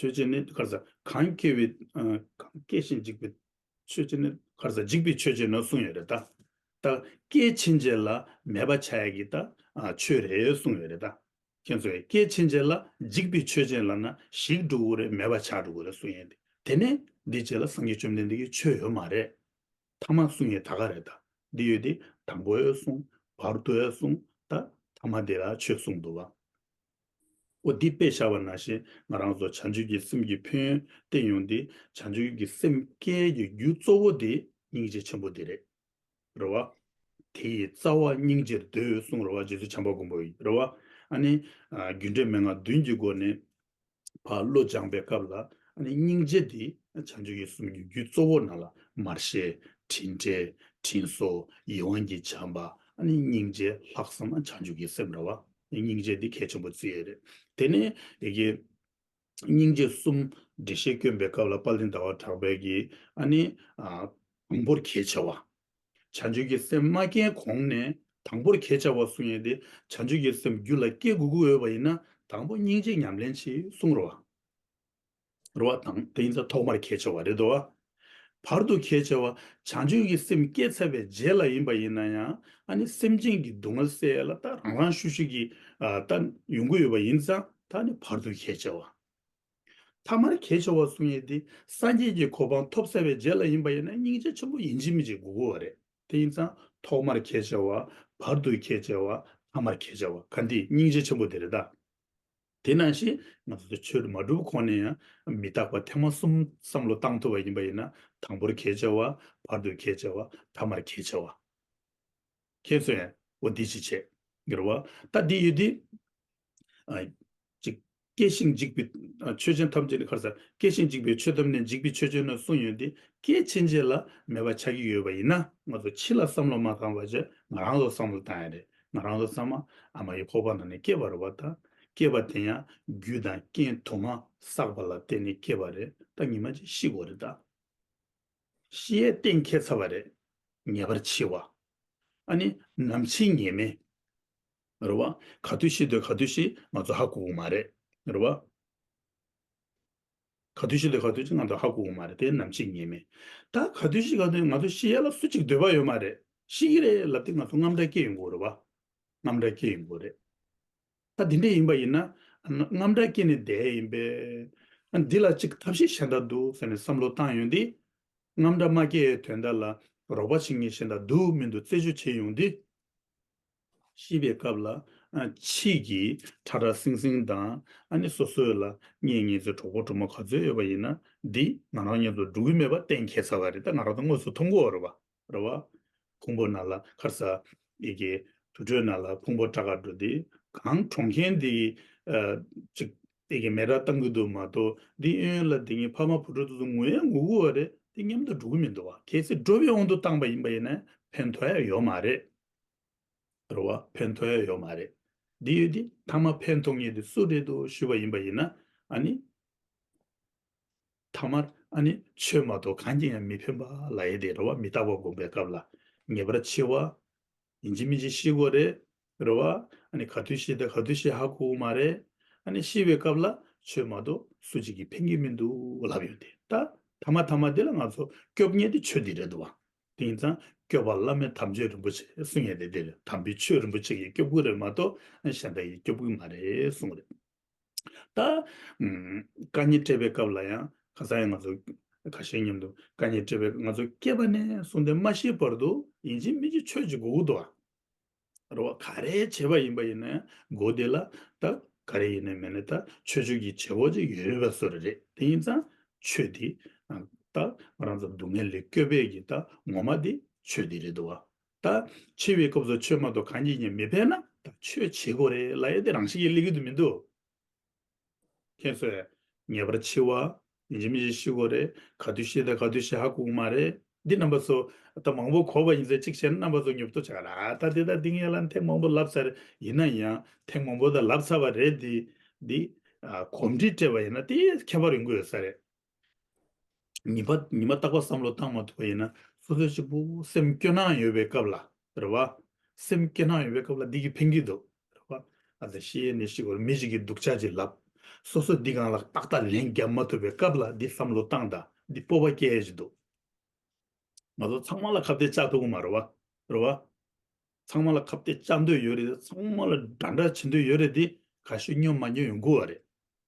ཆོས་ཅན་ནི་ཁར་ཟག་གང་སྐྱེ་བའི། གང་སྐྱེ་ཞིང་འཇིག་པའི། ཆོས་ཅན་ནི་ཁར་ཟག་འཇིག་པའི་ཆོས་ཅན་ནོ་གསུངས་ཡོད་རེད་ད། སྐྱེ་ཕྱིན་ཆད་ལ་མེད་པ་བྱ་ཡ་གི་ད་ཆོས་རེད་གསུངས་ཡོད་རེད་ད། ཁྱེད་ཚོས་སྐྱེ་ཕྱིན་ཆད་ལ་འཇིག་པའི་ཆོས་ཅན་ལ་ན་ཞིག་འགྲོ་དགོས་རེད་མེད་པ་བྱ་འགྲོ་དགོས་རེད་གསུངས་ཡོད་དེ་དེ་ནས་འདི་རྗེས་ལ་སངས་རྒྱས་བཅོམ་ལྡན་འདས་ཀྱི་ཆོས་ཡོད་མ་རེད། ཐ་མ་གསུངས་ཡོད་ད་ག་རེད་ད། འདི་ཡོད་དེ་དང་པོ་ཡོད་གསུངས། བར་དོའི་གསུངས་ད། ཐ་མ་འདི་ལ་ཆོས་གསུངས་འདུག་བ། པོ་འདི་དཔེ་བཞག་པ་ན་བཞིན་ང་རང་ཚོ་བྱང་ཆུབ་ཀྱི་སེམས་ཀྱི་ཕུན་བཏེགས་ཡོང་སྟེ་བྱང་ཆུབ་ཀྱི་སེམས་བསྐྱེད་ཀྱི་རྒྱུ་གཙོ་བོ་དེ་སྙིང་རྗེ་ཆེན་པོ་འདི་རེད། རེད་བ། དེ་ཡི་རྩ་བ་སྙིང་རྗེར་ཟློས་གསུངས་རེད་བ་རྗེ་བཙུན་བྱམས་པ་མགོན་པོ་ཡིས་རེད་བ། ཨ་ནི། རྒྱུ་འབྲས་མན་ངག་བདུན་གྱི་སྒོ་ནས་བ་བློ་སྦྱངས་པའི་སྐབས་ལ་ཨ་ནི་སྙིང་རྗེ་འདི་བྱང་ཆུབ་ཀྱི་སེམས་ཀྱི་རྒྱུ་གཙོ་བོ་ན་ལ་མར་ཤེས་དྲིན་བྲལ་དྲིན་གཟོ་ཡིད་དབང་གིས་བྱམས་པ་ཨ་ནི་སྙིང་རྗེ་ལྷག་བསམ་བྱང་ཆུབ་ཀྱི་སེམས་རེད་བ། སྙིང་རྗེ་འདི་གལ་ཆེན་པོ་བརྩི་ཡས་རེད། དེ་ནས་སྙིང་རྗེ་གསུམ་འགྲེལ་བཤད་བསྐྱོན་པའི་སྐབས་ལ་པཱ་ལིའི་ཟླ་བ་གྲགས་པའི་གིས་ཨ་ནི། དང་པོར་གལ་ཆེ་བ། བྱང་ཆུབ་ཀྱི་སེམས་མ་སྐྱེས་གོང་ནས་དང་པོར་གལ་ཆེ་བ་གསུངས་ཡས་ཏེ་བྱང་ཆུབ་ཀྱི་སེམས་རྒྱུད་ལ་སྐྱེ་དགོས་དགོས་འོས་པ་ཡིན་ན་དང་པོ་སྙིང་རྗེ་ཉམས་ལེན་གྱིས་གསུངས་རོགས། རུ་བ་དང་དེ་ཡིན་ཚ་ཐོག་མར་ཁས་འཆེ་བ་རེད་དོ། བར་དུ་ཁས་འཆེ་བ་བྱང་ཆུབ་ཀྱི་སེམས་བསྐྱེད་ཚར་བའི་རྗེས་ལ་ཡིན་པ་ཡིན་ན་ཡང་ཨ་ནི་སེམས་ཅན་གྱི་སྡུག་བསྔལ་སེལ་ལ་ད་རང་རང་ཤུགས་ཤིག་གིས་ད་ཡོང་གི་ཡོད་པ་ཡིན་ཚ་ད་ནི་བར་དུ་ཁས་འཆེ་བ། ཐ་མར་ཁས་འཆེ་བ་གསུང་ཡས་དེ་སངས་རྒྱས་ཀྱི་གོ་འཕང་ཐོབ་ཚར་བའི་རྗེས་ལ་ཡིན་པ་ཡིན་ན་སྙིང་རྗེ་ཆེན་པོ་ཡིན་གཅིག་མིན་གཅིག་དགུ་དགུ་བ་རེད་དེ་ཡིན་ཚ་ཐོག་མར་ཁས་འཆེ་བ་བར་དུ་ཁས་འཆེ་བ་ཐ་མར་ཁས་འཆེ་བ་ག་འདི་སྙིང་རྗེ་ཆེན་པོ་དེ་རེད་ད། དེ་ནང་བཞིན་ང་ཚོ་ཚོ་ཆོས་མ་སྒྲུབ་གོང་ནས་ཡང་མི་རྟག་པ་ཐེངས་མ་གསུམ་བསམ་བློ་བཏང་ཐུབ་པ་ཡིན་པ་ཡིན་ན་དང་པོར་ཁྱེད་བྱ་བ། བར་དུ་ཁྱེད་བྱ་བ། ཐ་མར་ཁྱེད་བྱ་བ། ཁྱེད་ཚོ་ཡང་འོ་འདི་ཅི་བྱེད། འགྱུར་བ་ད་འདི་ཡོད་དེ། གཅིག། སྐྱེ་ཞིང་འཇིག་པའི་ཆོས་ཅན་ཐམས་ཅད་ནི་ཁར་ཟ། སྐྱེ་ཞིང་འཇིག་པའི་ཆོས་ཐམས་ནི་འཇིག་པའི་ཆོས་ཅན་ནོ་གསུངས་ཡོད་དེ། སྐྱེ་འཆི་འཇལ་ལ་མེད་པ་ཆགས་ཀྱི་ཡོད་པ་ཡིན་ན་ང་ཚོ་འཆི་ལ་བསམ་བློ་མ་བཏང་བར་ཇག་ང་རང་ལ་བསམ་བློ་བཏང་ཡ་རེད། ང་རང་ལ་གཙང་མ་ཨ་མ་ཡི་ཁོག་པ་ན་ནས་སྐྱེས་པ་རེད་བ་ད། སྐྱེས་པ་དེ་ཡང་རྒྱུ་དང་རྐྱེན་དུ་མ་བསགས་པ་ལ་བརྟེན་ནས་སྐྱེས་པ་རེད་ད་ཉི་མ་གཅིག་ཤི་དགོས་རེད་ད། ཤི་ཡའི་གཏན་འཁེལ་ཚར་བ་རེད། ངེས་པར་འཆི་བ། ཨ་ནི་ནམ་འཆི་ངེས་མེད། རེད་བ། ག་དུས་ཤི་འདོད་ག་དུས་ཤི་ང་ཚོ་ཧ་གོ་གོ་མ་རེད། རེད་བ། ག་དུས་ཤིག་ལས་ག་དུས་ཤིག་ང་ཚོ་ཧ་གོ་གི་མ་རེད་དེ་ནམ་ཕྱིན་ངེས་མེད། ད་ག་དུས་ཤིག་ག་དུས་ང་ཚོ་ཤི་ཡ་ལ་སུ་གཅིག་སྡོད་པ་ཡོད་མ་རེད། ཤི་གི་རེད་ལབ་དེ་ང་ཚོ་རྔམ་དྲག་སྐྱེ་ཡོང་གི་རེད་བ། རྔམ་དྲག་སྐྱེ་ཡོང་གི་རེད། ད་དེ་འདྲས་ཡིན་པ་ཡིན་ན། རྔམ་དྲག་སྐྱེ་ནས་བསྡད་ཡིན་པས། འདི་ལ་གཅིག་ཐབས་ཤེས་གཞན་དག་འདུག་ཟེར་ནས་བསམ་བློ་བཏང་ཡོང་དེ། རྔམ་དྲག་མ་སྐྱེ་ཡའི་དོན་དག་ལ་རོགས་པ་བྱེད་མཁན་གཞན་དག་འདུག་མི་འདུག་རྩད་གཅོད་བྱེད་ཡོང་དེ། ཤིས་པའི་སྐབས་ལ། ཕྱིས་ཀྱི་ཁྲ་ཁྲ་སིང་སིང་དང། ཨ་ནི་སོ་སོས་ལ། ངེད་གཉིས་ཚོའི་གྲོགས་པོ་གྲོགས་མོ་ག་ཚོད་ཡོད་པ་ཡིན་ན། འདི་ང་རང་གཉིས་ཚོ་འགྲོ་གི་མེད་པ་གཏན་འཁེལ་ཚར་བ་རེད་ད་ང་རང་ཚོ་དངོས་སུ་མཐོང་གོ། རེད་བ། ཕུང་པོ་ན་ལ་ཁར་ས། ཡི་གེ། དུར་ཁྲོད་ན་ལ་ཕུང་པོ་ཁྲ་ཁར་འགྲོ་འདི། གང་གྲོང་མཁན་འདི། ཅིག། ཡི་གེ་མེ་ར་བཏང་གི་འདུག་མ་གཏོགས་འདི་ཨེ་ཡོད་ལ་འདི་གཉིས་ཕ་མ་བུ་ཕྲུག་ཚོ་ཚོ་ངུའི་ངུ་གུ་བ་རེད་འདི་མཉམ་དུ་འགྲོ་གི་མི་འདུག་བ་གལ་སྲིད་འགྲོ་བའི་དབང་དུ་བཏང་པ་ཡིན་པ་ཡིན་ན་ཕན་ཐོགས་ཡ་ཡོད་མ་རེད། རེད། རེད་བ། ཕན་ཐོགས་ཡོད་ཡོད་མ་རེད། འདི་ཡོད་དེ། ཐ་མ་ཕན་ཐོགས་ངེས་དེ་སུ་རེད་འདུག་ཞུས་པ་ཡིན་པ་ཡིན་ན། ཨ་ནི། ཐ་མར། ཨ་ནི། ཆོས་མ་གཏོགས་གང་གི་ཡང་མི་ཕན་པ་ལ་ཡིན་ཏེ་རེད་བ། མི་རྟག་པ་སྒོམ་པའི་སྐབས་ལ། ངེས་པར་འཆི་བ། ཡིན་གཅིག་མིན་གཅིག་ཤི་དགོས་རེད། རེད་བ། ཨ་ནི་ག་དུས་ཤི་དང་ག་དུས་ཤི་ཧ་གོ་མ་རེད། ཨ་ནི་ཤི་བའི་སྐབས་ལ། ཆོས་མ་གཏོགས་སུ་གཅིག་གིས་ཕན་གི་མི་འདུག་ལབ་ཡོད་དེ། ད། ཐ་མ་ཐ་མ་འདི་ལ་ང་ཚོ་སྐྱོབ་ངེས་དེ་ཆོས་འདི་རེད་འདུག་བ། དེང་སང་སྐྱོབ་པ་བླ་མེད་དམ་ཆོས་རིན་པོ་ཆེ་གསུང་ཡས་དེ་འདིར་དམ་པའི་ཆོས་རིན་པོ་ཆེ་ཡི་སྐྱོབ་གུ་རེད་མ་གཏོགས་གཞན་པ་ཡི་སྐྱོབ་གུ་མ་རེད་གསུང་རེད་ད། བཀའ་ཉན་སྤྲད་པའི་སྐབས་ལ་ཡང་གང་ཟག་ཡང་ང་ཚོ་ཁ་ཤས་མཉམ་དུ་བཀའ་ཉན་སྤྲད་པའི་སྐབས་ང་ཚོ་སྐྱེས་པ་ནས་བཟུང་སྟེ་མ་ཤི་བར་དུ་ཡིན་གཅིག་མིན་གཅིག་ཆོས་ཀྱི་གུ་གུ་དུ་བ། རེད། རོ་ག་རེ་བྱེད་པ་ཡིན་པ་ཡིན་ནའི་མགོ་དེ་ལ་ད་ག་རེ་ཡིན་ནའི་མེད་ནའི་ད་ཆོས་ཆོས་ཀྱི་བྱེད་པོ་ཅིག་ཡོད་པ་སོ་རེ་རེད་དེ་ཡིན་ཙང་ཆོས་དེ་ད་ང་རང་ཚོ་སྡུག་བསྔལ་ལས་སྐྱོབ་པའི་གི་ད་ངོ་མ་དེ་ཆོས་དེ་རེད་དོ། ད་འཆི་བའི་སྐབས་སུ་ཆོས་མ་གཏོགས་གང་གིས་ཀྱང་མི་ཕན་ན་ད་ཆོས་བྱེད་དགོས་རེད་ལ་ཡ་དེ་རང་བཞིན་གྱིས་ལེགས་ཀྱི་དུ་མི་འདུག། ཁྱེད་ཚོས་ངེས་པར་འཆི་བ་འཇིག་མི་འཇིག་ཤི་གོ་རེ་ག་དུས་ཤི་དང་ག་དུས་ཤི་ཧ་གོ་གི་མ་རེད་འདི་རྣམ་པ་ཚོ་ད་མང་པོ་གོ་བ་ཡིན་ཚེ་གཅིག་བྱས་ན་རྣམ་པ་ཚོ་ཉོབ་ཏོ་ཆགས་ལ་ད་འདི་དང་འདི་ངེས་ལ་ཐེངས་མང་པོ་ལབ་ཚར་ཡིན་ན་ཡང་ཐེངས་མང་པོ་ད་ལབ་ཚར་བ་རེད་འདི་འདི་གོམས་འདྲིས་སྤྲད་པ་ཡིན་ན་དེ་ཁྱད་པར་ཡོང་གི་ཡོད་ས་རེད། ཉི་མ་ཉི་མ་བརྟག་པ་བསམ་བློ་བཏང་མ་ཐུབ་པ་ཡིན་ན་སོ་སོའི་གཅིག་པུ་སེམས་སྐྱོ་སྣང་ཡོད་པའི་སྐབས་ལ་རེད་བ། སེམས་སྐྱོ་སྣང་ཡོད་པའི་སྐབས་ལ་འདི་གིས་ཕན་གྱི་འདུག་རེད་བ། ཨ་ཙི་ཤི་ཡེ་ནས་ཤི་གོ་མི་ཞིག་གིས་སྡུག་ཅག་ཅིག་ལབ། སོ་སོས་འདི་གང་ལགས་ཏག་ཏག་ལན་བརྒྱབ་མ་ཐུབ་པའི་སྐབས་ལ་འདི་བསམ་བློ་བཏང་དང་འདི་སྤོབས་པ་སྐྱེ་ཡ་ཅིག་འདུག། ང་ཚོ་ཚང་མ་ལ་ཁ་བརྡའི་ལྕགས་ཐོག་གུ་མ་རེད་བ། རེད་བ། ཚང་མ་ལ་ཁ་བརྡའི་ལྕགས་འདོད་ཡོད་རེད་དེ་ཚང་མ་ལ་འདྲ་འདྲ་བྱེད་འདོད་ཡོད་རེད་དེ་ག་ཤེད་སྨྱོ་མ་སྨྱོ་ཡོང་གུ་བ་རེད།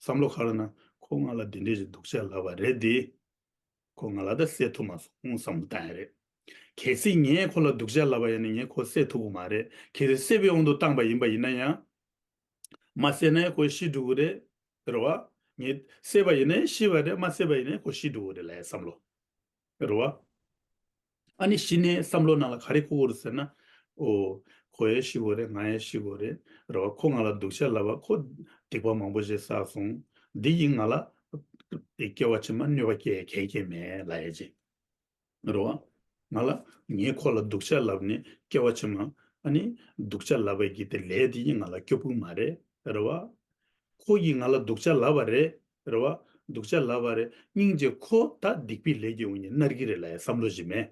བསམ་བློ་ཁ་ར་ན་ཁོ་ང་ལ་དེ་འདྲས་ཞིག་འདུག་བཤད་ལབ་པ་རེད་དེ། ཁོ་ང་ལ་ད་བསད་ཐུབ་མ་སོང་བསམ་བློ་བཏང་ཡ་རེད། གལ་སྲིད་ངས་ཁོ་ལ་འདུག་བཤད་ལབ་པ་ཡིན་ན་ངས་ཁོ་བསད་ཐུབ་གི་མ་རེད་གལ་སྲིད་བསད་པའི་དབང་དུ་བཏང་པ་ཡིན་པ་ཡིན་ན་ཡང། མ་བསད་ན་ཁོ་ཤི་འགྲོ་གི་རེད། རེད་བ། ངས་བསད་པ་ཡིན་ན་ཤི་བ་རེད་མ་བསད་པ་ཡིན་ན་ཁོ་ཤི་འགྲོ་གི་རེད་ལ་ཡ་བསམ་བློ། རེད་བ། ཨ་ནི་ཤི་ནས་བསམ་བློ་ནང་ལ་ག་རེ་ཁུག་གོ་རེད་ཟེར་ན། ཨོ། ཁོ་ཡས་ཤི་གོ་རེད་ང་ཡས་ཤི་གོ་རེད། རེད་བ། ཁོ་ང་ལ་སྡུག་ཤ་ལབ་བ་ཁོ། སྡིག་པ་མང་པོ་ཞིག་བསགས་སོང། འདི་ཡིས་ང་ལ། སྐྱེ་བ་ཕྱི་མ་གནོད་པ་སྐྱེལ་གལ་སྐྱེས་མེད་ལ་ཡས་ཅིག། རེད་བ། ང་ལ། ངས་ཁོ་ལ་སྡུག་ཤ་ལབ་ནས་སྐྱེ་བ་ཕྱི་མ། ཨ་ནི། སྡུག་ཤ་ལབ་བ་གྱིས་དེ་ལས་དེ་ཡིས་ང་ལ་སྐྱོ་ཕུག་མ་རེད། རེད་བ། ཁོ་གིས་ང་ལ་སྡུག་ཤ་ལབ་བ་རེད། རེད་བ། སྡུག་ཆ་ལབ་བ་རེད་སྙིང་རྗེ་ཁོ་ད་སྡིག་པའི་ལས་ཀྱི་འུ་གཉིས་མནར་གྱི་རེད་ལ་ཡ་བསམ་བློ་ཞིག་མེད།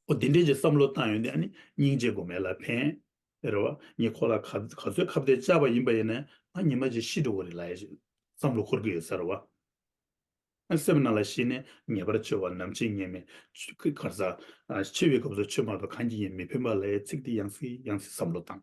ཨོ་འདི་འདྲའི་ཀྱི་བསམ་བློ་བཏང་ཡོད་ནི་ཨ་ནི་སྙིང་རྗེ་དགོས་མེད་ལ་ཕན། རེད་བ། ངས་ཁོ་ལ་ག་ཚོད་ཁ་བརྡའི་བཅར་བ་ཡིན་པ་ཡིན་ནའི་ཨ་ཉི་མ་ཅིག་ཤི་འགྲོ་གི་རེད་ལ་ཡ་ཞིག་བསམ་བློ་འཁོར་གི་ཡོད་ས་རེད་བ། ཨ་སེམས་ནང་ལ་ཤི་ནས་ངེས་པར་ཆོས་བ་ནམ་ཕྱིན་ངེས་མེད། ཁར་ཟ། ཤི་བའི་སྐབས་སུ་ཆོས་སྨྲ་བ་གང་གྱིས་ཡིན་མི་ཕན་པ་ལ་ཡའི་ཚིག་འདི་ཡང་སྲིད་ཡང་སྲིད་བསམ་བློ་བཏང།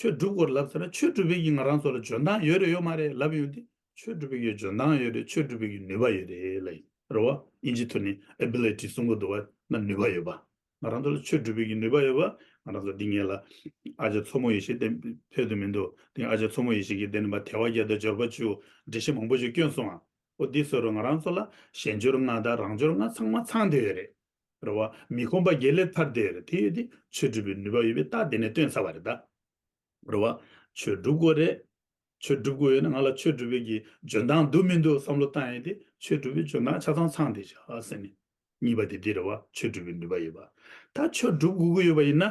ཆོས་སྒྲུབ་སྐོར་ལབ་ཟེར་ན་ཆོས་སྒྲུབ་བེད་ཀྱི་ང་རང་ཚོ་ལ་འཇོན་ཐང་ཡོད་རེད་ཡོད་མ་རེད་ལབ་ཡོང་དེ་ཆོས་སྒྲུབ་བེད་ཀྱི་འཇོན་ཐང་ཡོད་རེད་ཆོས་སྒྲུབ་བེད་ཀྱི་ནུས་པ་ཡོད་རེད་ལ་ཡིན་རེད་བ་ཨིན་ཇི་ཐོ་ནི Ability གསུང་གོ་འདུག་བ་ན་ནུས་པ་ཡོད་པ་ང་རང་ཚོ་ལ་ཆོས་སྒྲུབ་བེད་ཀྱི་ནུས་པ་ཡོད་པ་ང་རང་ཚོ་འདི་ངེད་ལ་ཨ་ཅག་མཚོ་མོ་ཡེ་ཤེས་དེ་ཕེབས་དུ་མི་འདུག་དེ་ཨ་ཅག་མཚོ་མོ་ཡེ་ཤེས་ཀྱིས་དེ་ནི་བ་དལ་བ་བརྒྱ་དང་འབྱོར་པ་བཅུ་འགྲེལ་བཤད་མང་པོ་ཅིག་བསྐྱོན་སོང་ཨ་འོ་འདི་བཟོས་རོགས་ང་རང་ཚོ་ལ་གཞན་འབྱོར་ལྔ་དང་རང་འབྱོར་ལྔ་ཚང་མ་ཚང་འདོད་ཡོད་རེད། རེད་བ། མི་ཁོམ་པ་བརྒྱད་ལས་ཐར་འདས་རེད་དེ་ཡོད་དེ་ཆོས་སྒྲུབ་པའི་ནུས་པ་ཡོད་པས་རྟགས་དེ་ནས་སྟོན་ཚར་བ་རེད་ད། རེད་བ། ཆོས་སྒྲུབ་དགོས་རེད། ཆོས་སྒྲུབ་དགོས་ཡོད་ན་ང་ལ་ཆོས་སྒྲུབ་པའི་གི་འཇོན་ཐང་འདུག་མི་འདུག་བསམ་བློ་བཏང་ཡོད་དེ་ཆོས་སྒྲུབ་པའི་འཇོན་ཐང་ཆ་ཚང་ཚང་དེ་བྱ་ཟེར་ནས། གཉིས་པ་དེ་དེ་རེད་བ་ཆོས་སྒྲུབ་པའི་ནུས་པ་ཡོད་པ། ད་ཆོས་སྒྲུབ་དགོས་ཀྱི་ཡོད་པ་ཡིན་ན།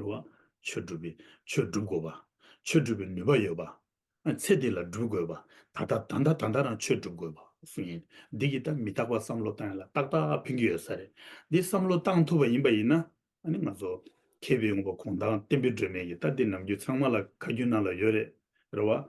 རུང་བ། ཆོས་བསྒྲུབ་པའི་ཆོས་བསྒྲུབ་དགོས་པ། ཆོས་བསྒྲུབ་པའི་ནུས་པ་ཡོད་པ། ཚེ་འདི་ལ་བསྒྲུབ་དགོས་པ། ད་ལྟ་ད་ལྟ་ད་ལྟ་རང་ཆོས་བསྒྲུབ་དགོས་པ་སུ་ཡིན་འདི་གི་ད་མི་རྟག་པ་བསམ་བློ་བཏང་ཡོད་ལ་ཏག་ཏག་ཕན་གྱི་ཡོད་ས་རེད་འདི་བསམ་བློ་བཏང་ཐུབ་པ་ཡིན་པ་ཡིན་ན་ནི་ང་ཚོ་མཁས་པའི་ངོ་བོ་གོང་དང་བསྟན་པའི་སྒྲོན་མེ་ཡི་ད་འདི་ནམ་རྒྱུན་ཚང་མ་ལ་ཁ་རྒྱུན་ནང་ལ་ཡོད་རེད་རུང་བ།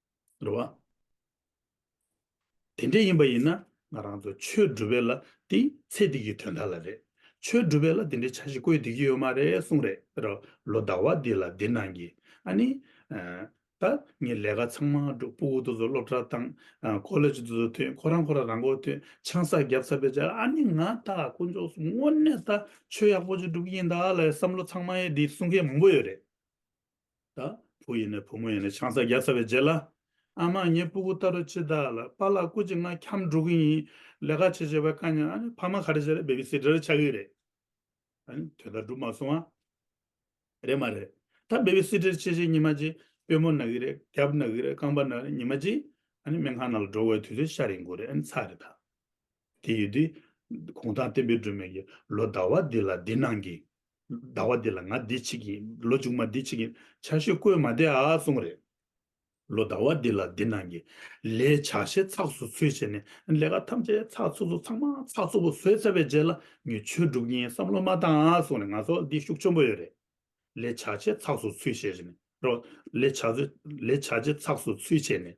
འགྲོ་བ། དེ་འདྲ་ཡིན་པ་ཡིན་ན་ང་རང་ཚོ་ཆོས་སྒྲུབ་པའི་ལ་དེ་ཚེ་འདི་གི་དོན་དག་ལ་རེད། ཆོས་སྒྲུབ་པའི་ལ་དེ་འདྲའི་བྱ་ཞིག་བཀོད་བསྡུས་ཀྱི་ཡོད་མ་རེད་གསུངས་རེད་རོ། ལོ་ཟླ་བ་འདི་ལ་འདི་གནང་གི། ཨ་ནི། ད་ངས་ལས་ཀ་ཚང་མ་སྒྲུབ་སྤུའུ་དུ་ཚོ་སློབ་གྲྭར་བཏང། ཀོ་ལེ་ཇུ་དུ་ཚོ་ཐོན་ཁོ་རང་ཁོ་རང་རང་མགོ་ཐོན་ཆང་ས་རྒྱབ་ས་བེད་སྦྱར་ཨ་ནི་ང་ད་དཀོན་མཆོག་སུ་དངོས་གནས་ད་ཆོས་ཡག་པོ་ཅིག་སྒྲུབ་ཀྱི་ཡིན་ད་ལ་ཡི་བསམ་བློ་ཚང་མ་ཡོད་འདི་གསུང་མཁན་མང་པོ་ཡོད་རེད། ད་བུ་ཡིན་ནས་བུ་མོ་ཡིན་ནས་ཆང་ས་རྒྱག་ས་བའི་རྗེས་ལ། ཨ་མ་ངའི་སྤུ་གུ་ལྟ་རུ་ཅི་ད་ལ་པ་ལགས་སྐུ་ཅིག་ང་འཁྱམས་འགྲོ་གི་ཡིན་ལས་ཀ་བྱེད་བྱེད་པ་དཀའ་ཉེ་ཨ་ཕ་མ་ག་རེ་བྱས་རེད་བེབི་སི་ཏར་ཆགས་ཀྱི་རེད། དོན་དག་འགྲུབ་མ་སོང་ཨ། རེད་མ་རེད་ད་བེབི་སི་ཏར་བྱེད་བྱེད་ཉི་མ་གཅིག་དཔོན་མོ་ན་གི་རེད་རྒྱབ་ན་གི་རེད་རྐང་པ་ན་རེད་ཉི་མ་གཅིག་སྨན་ཁང་ན་ལ་འགྲོ་དགོས་ཡོད་དུས་ཚོད་ཤ་རེ་འགོར་རེད་ཨ་ནི་ཚ་རེད་ད། དེ་ཡོད་དེ། གུང་ཐང་བསྟན་པའི་སྒྲོན་མེ་ཡིས། ལོ་ཟླ་བ་འདི་ལ་འདི་གནང་གི། ཟླ་བ་འདི་ལ་ང་འདི་བྱེད་ཀྱི། ལོ་མཇུག་མ་འདི་བྱེད་ཀྱི། ཆར་ཞོད་བསྐོལ་མ་དེ་ཨ་གསུང་རེད། ལོ་ཟླ་བ་འདི་ལ་འདི་གནང་གི། ལས་བྱ་ཞེ་ཚགས་སུ་ཚུལ་བྱས་ནས། ལས་ཀ་ཐམས་ཅད་ཚགས་ཚུགས་སུ་ཚང་མ་ཚགས་ཚུགས་པོ་བཟོས་ཚར་བའི་རྗེས་ལ། ངས་ཆོས་སྒྲུབ་ཀྱིན་བསམ་བློ་མ་བཏང་ཨ་གསུང་རེད་ང་ཚོ་འདི་ཤུགས་ཆེན་པོ་ཡོད་རེད། ལས་བྱ་ཞེ་ཚགས་སུ་ཚུལ་བྱས་ནས། རོགས། ལས་བྱ། ལས་བྱ་ཞེ་ཚགས་སུ་ཚུལ་བྱས་ནས།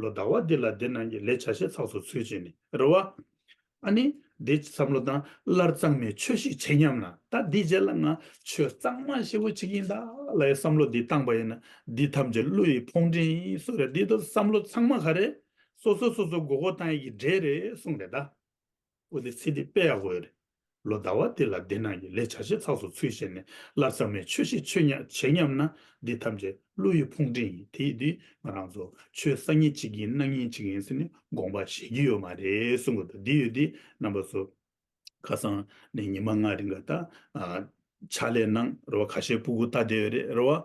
ལོ་ཟླ་བ་འདི་ལ་འདི་རྣམས་ཀྱི་ལས་བྱ་ཤེས་ཚགས་སུ་ཚུལ་བྱས་ནས་རེ་བ། ཨ་ནི། འདི་བསམ་བློ་དང་སླར་གཙང་མའི་ཆོས་ཤིག་བྱེད་སྙམ་ན་ད་འདི་རྗེས་ལ་ང་ཆོས་གཙང་མ་ཞེ་བོ་བྱེད་ཀྱིན་གདའ་ལ་ཡི་བསམ་བློ་འདི་བཏང་པ་ཡིན་ན་འདི་ཐམས་ཅད་བློ་ཡི་ཕོངས་འདྲེན་ཡིན་གསུངས་རེད་འདི་ལྟ་བུ་བསམ་བློ་ཚང་མ་ག་རེད། སོ་སོས་སོ་སོ་མགོ་སྐོར་བཏང་ཡི་གི་འདྲེ་རེད་གསུངས་རེད་གདའ། ཨུ་དི་སི་ཏི་པས་འོས་རེད། ལོ་ཟླ་བ་འདི་ལ་འདི་ནང་གི་ལས་བྱ་བྱེད་ཚགས་སུ་ཚུད་བྱས་ནས་ལབ་ཙམ་མའི་ཆོས་ཤིག་ཆོས་ཉག་བྱེད་སྙམ་ན་འདི་ཐམས་ཅད་བློ་ཡི་ཕུང་འདྲེ་ཡིན་དེ་ཡིན་དུས་ང་རང་ཚོ་ཆོས་ས་ཉིན་གཅིག་ཡིན་གནང་ཉིན་གཅིག་ཡིན་ཟེར་ནས་དགོངས་པ་བཞེས་ཀྱི་ཡོད་མ་རེད་གསུང་གི་འདུག་འདི་ཡོད་དུས་རྣམ་པ་ཚོ། ཁ་སང་ནས་ཉི་མ་ལྔ་རིང་ག་ད། ཕྱག་ལས་གནང་རོགས་ཁ་ཤས་སྤུ་གུ་བལྟ་བསྡད་ཡོད་རེད་རེད་བ།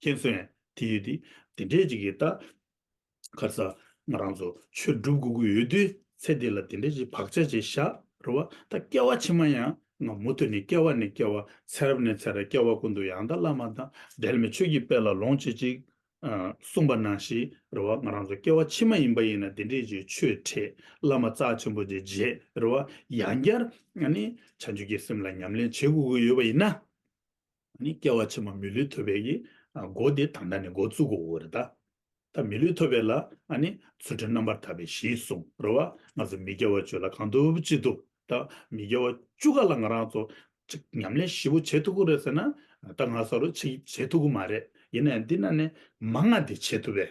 མཁྱེན་གསོན། དེ་ཡོད་དེ། དེ་འདྲས་ཅིག་གིས་ད། གར་ས། ང་རང་ཚོ། ཆོས་སྒྲུབ་དགོས་ཀྱི་ཡོད་དུས། ཚེ་འདི་ལ་དེ་འདྲས་ཅིག་བག་ཆགས་བྱས་བཞག་རོལ་བ། ད་སྐྱེ་བ་ཕྱི་མ་ཡང། ང་མུ་མཐུད་ནས་སྐྱེ་བ་ནས་སྐྱེ་བ། ཚེ་རབས་ནས་ཚེ་རབས་སྐྱེ་བ་ཀུན་ཏུ་ཡང་དག་བླ་མ་དང། འབྲལ་མེད་ཆོས་ཀྱི་དཔལ་ལ་ལོངས་སྤྱད་ཅིག། གསུངས་པ་ནང་བཞིན་རོལ་བ། ང་རང་ཚོ་སྐྱེ་བ་ཕྱི་མ་ཡིན་པ་ཡིན་ན་དེ་འདྲས་ཅིག་ཆོས་ཁྲེས་བླ་མ་རྩ་ཆེན་པོ་དེ་མཇལ་རོལ་བ། ཡང་བསྐྱར། བྱང་ཆུབ་ཀྱི་སེམས་ལ་ཉམས་ལེན་བྱེད་དགོས་ཀྱི་ཡོད་པ་ཡིན་ན། ནི་སྐྱེ་བ་ཕྱི་མ་མི་ལུས་ཐོབ་པའི་སྒོ་དེ་དང་ད་ནི་སྒོ་བཙུག་གོ་རེ་ད། ད་མི་ལུས་ཐོབ་པའི་ལ་ནི་ཚུལ་ཁྲིམས་རྣམ་པར་དག་པའི་གཞི་གསུང་རོ། བ་ང་ཚོ་མི་དགེ་བ་བཅུ་ལ་གང་ཐུབ་ཅི་ཐུབ་ད་མི་དགེ་བ་བཅུ་ག་ལ་ང་རང་ཚོ་ཅིག་ཉམས་ལེན་བཞི་བོ་བྱེད་ཐུབ་གོ་རེ་ཟེར་ན་ད་ང་ས་རུ་ཆིག་བྱེད་ཐུབ་གི་མ་རེད་ཡིན་ན་ཡང་འདི་ན་ནི་མ་ང་དེ་བྱེད་ཐུབ་པས་